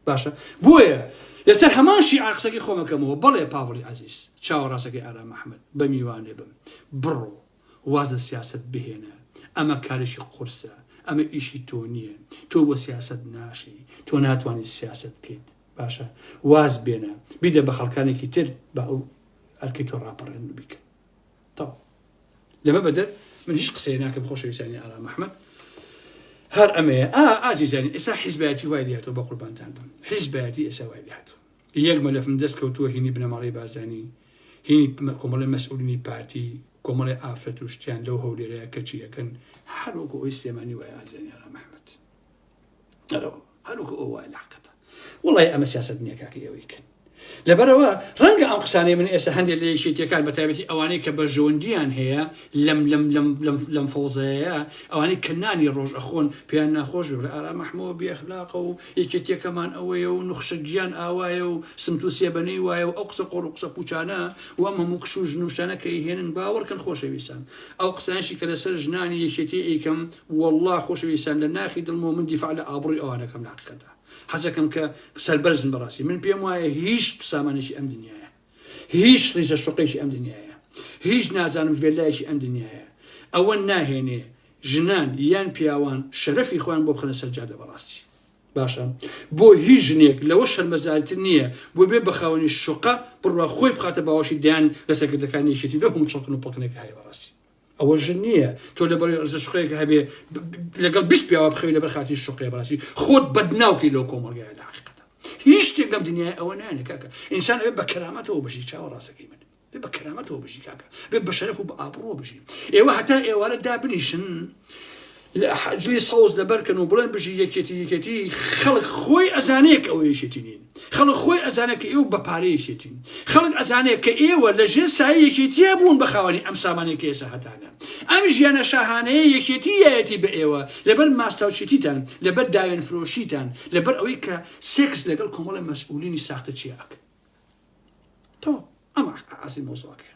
[SPEAKER 1] باشە بۆیە لەسەر هەمان شیعە قسەکەی خۆم ئەکەمەوە بەڵێ پاڤڵی عەزیز چاوە ڕاستەکەی ئارام ئەحمەد بە میوانێ بم بڕۆ واز لە سیاسەت بهێنە ئەمە کارێکی قورسە ئەمە ئیشی تۆ نییە تۆ بۆ سیاسەت ناشی تۆ ناتوانانی سیاسەت بکەیت باشە واز بێنە بیدە بە خەڵکانێکی تر بە ئەو ئەرکی تۆ ڕاپەڕێن و بیکە تەواو لەمە بەدەر من هیچ قسەیە ناکەم خۆشەویستانی ئارام ئەحمەد هەر ئەمەیە ئا ئازیزانی ئێسا حیزبایەتی وای لێهاتەوە بە قوربانتان بم حیزبایەتی ئێسا وای لێهاتوو یەک مەلەفم دەست کەوتووە هینی بنەماڵەی بارزانی هینی کۆمەڵی مەسئولینی پارتی کۆمەڵی ئافرەت و شتیان لەو هەولێرەیە کەچی ئەکەن هەروەکو ئەوی سلێمانی وایە ئازیزانی ئارام ئەحمەد ئەرەوە هەروکە ئەو وای لاقەتە وڵی ئەمە سیاست نییە کاکە ئەوەی کرد لەبەرەوە ڕەنگە ئەم قسانەی من ئێستا هەندێک لە یەکێتیەکان بە تایبەتی ئەوانەی کە بەرژەوەندیان هەیە لەم لەم لەم لەم لەم فەوزەیە ئەوانەی کەنانی ڕۆژ ئەخۆن پێیان ناخۆش بێ ئارا مححمەوە بێخلاقە و یەکێتیەکەمان ئەوەیە و نخشە گیان ئاوایە و سمت و سێبەنەی وایە و ئەو قسە قۆڵ و قسە پوچانە و ئەم هەموو کش و ژنوشتانە کە هێنن باوەڕکەن خۆشەویستان ئەو قسانشی کە لەسەر ژنانی یەکێتی ئەیکەم وەڵڵا خۆشەویستان لە ناخی دڵمەوە من دیفاع لە ئابڕوی ئەوان ئەکەم لە حەقیقەتا حەزەکەم کە سەربەرزن بەڕاستی من پێم وایە هیچ سامانێکی ئەم دنیایە هیچ ڕیزە شوقەیەکی ئەم دنیایە هیچ نازانم ڤێللایەکی ئەم دنیایە ئەوە ناهێنێ ژنان یان پیاوان شەرەفی خۆیان بۆ بخەنە سەر جادە بەڕاستی باشە بۆ هیچ ژنێک لەوە شەرمەزارتر نییە بۆ بێ بەخاوەنی شوقە بڕوا خۆی بخاتە باوەشی دەیان لەسەرکردەکانی یەکێتی لەو هەموو چڵکن و پڵکنێک هەیە بەڕاستی ئەوە ژن نییە تۆ لە بەرەی عزە شقەیەک هەبێ لەگەڵ بیست پیاوە بخەوی لەبەر خاتی شقەیە بەڕاستی خۆت بەدناوکەی لەو کۆمەڵگایە لە حەقیقەتە هیچ شتێک لەم دنیای ئەوە نایەنە کاکە ئینسان ئەوێ بە کەرامەتەوە بژی چاوە ڕاستەکەی من بێ بە کەرامەتەوە بژی کاکە بێ بە شەرەف و بە ئابڕۆ بژی ئێوە هەتا ئێوارە دا بنیشن لە حەجری سەوز لەبەرکەن و بڵێن بژی یەکێتی یەکێتی خەڵک خۆی ئەزانێ کە ئەوە یەکێتی نین خەڵک خۆی ئەزانێ کە ئێوە بەپارە یەکێتین خەڵک ئەزانێ کە ئێوە لە ژێر سایە یەکێتیە بوون بە خاوەنی ئەم سامانەی کە ئێستا هەتانە ئەم ژیانە شاهانەیە یەکێتی یەتی بە ئێوە لەبەر ماستاوچێتیتان لەبەر داوێن فرۆشیتان لەبەر ئەوەی کە سێکس لەگەڵ کۆمەڵی مەسئولینی ساختە چیاکە تۆ ئەمە عزی مۆزۆکەیە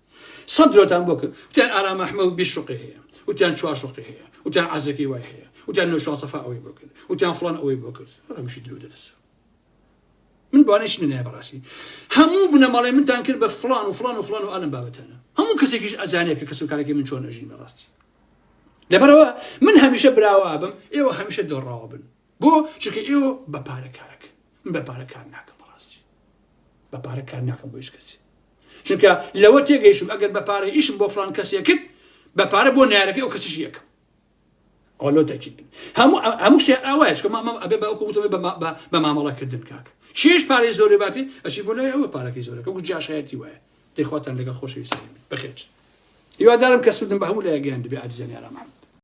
[SPEAKER 1] سەد درۆتان بۆ کرد وتیان ئارام ئەحمەد بیست شوقی هەیە وتیان چوار شوقی هەیە وتیان عەزەکی وای هەیە وتیان نەوشان سەفا ئەوەی بۆ کرد وتیان فڵان ئەوەی بۆ کرد هەمشی درۆ دەدەسە من بۆانەش منە بەڕاستی هەموو بنەماڵێ منتان کرد بە فلان و فلان و فلان و ئالم بابەتانە هەموو کەسێکیش ئەزانێت کە کەس و کارێکی من چۆن ئەژین بەڕاستی لەبەرەوە من هەمیشە براوا بم ئێوە هەمیشە دۆڕاوە بن بۆ چونکە ئێوە بە پارە کارەکەن من بە پارە کار ناکەم بەڕاستی بە پارە کار ناکەم بۆ هیچ کەسی چونکە لەوە تێگەیشتم ئەگەر بە پارە ئیشم بۆ فلان کەسێکت بە پارە بۆ نارەکەی ئەو کەسیش یەکەم ئەوە تەکیت بن هەموو هەموو شتێ ئاوایش کە مامە ئەبێ بە وتەوەی بە مامەڵەکردن کاک کێش پارەی زۆرێ باتی ئەچی بۆ لای ئەوە پارەکەی زۆرەکە گو جاشایەتی وایە دەخواتان لەگەڵ خۆشەویستانی من بەخێرچ هیوادارم کە سوودم بە هەموو لایەک گەیاندبێ ئازیزانی ئارام محەمەد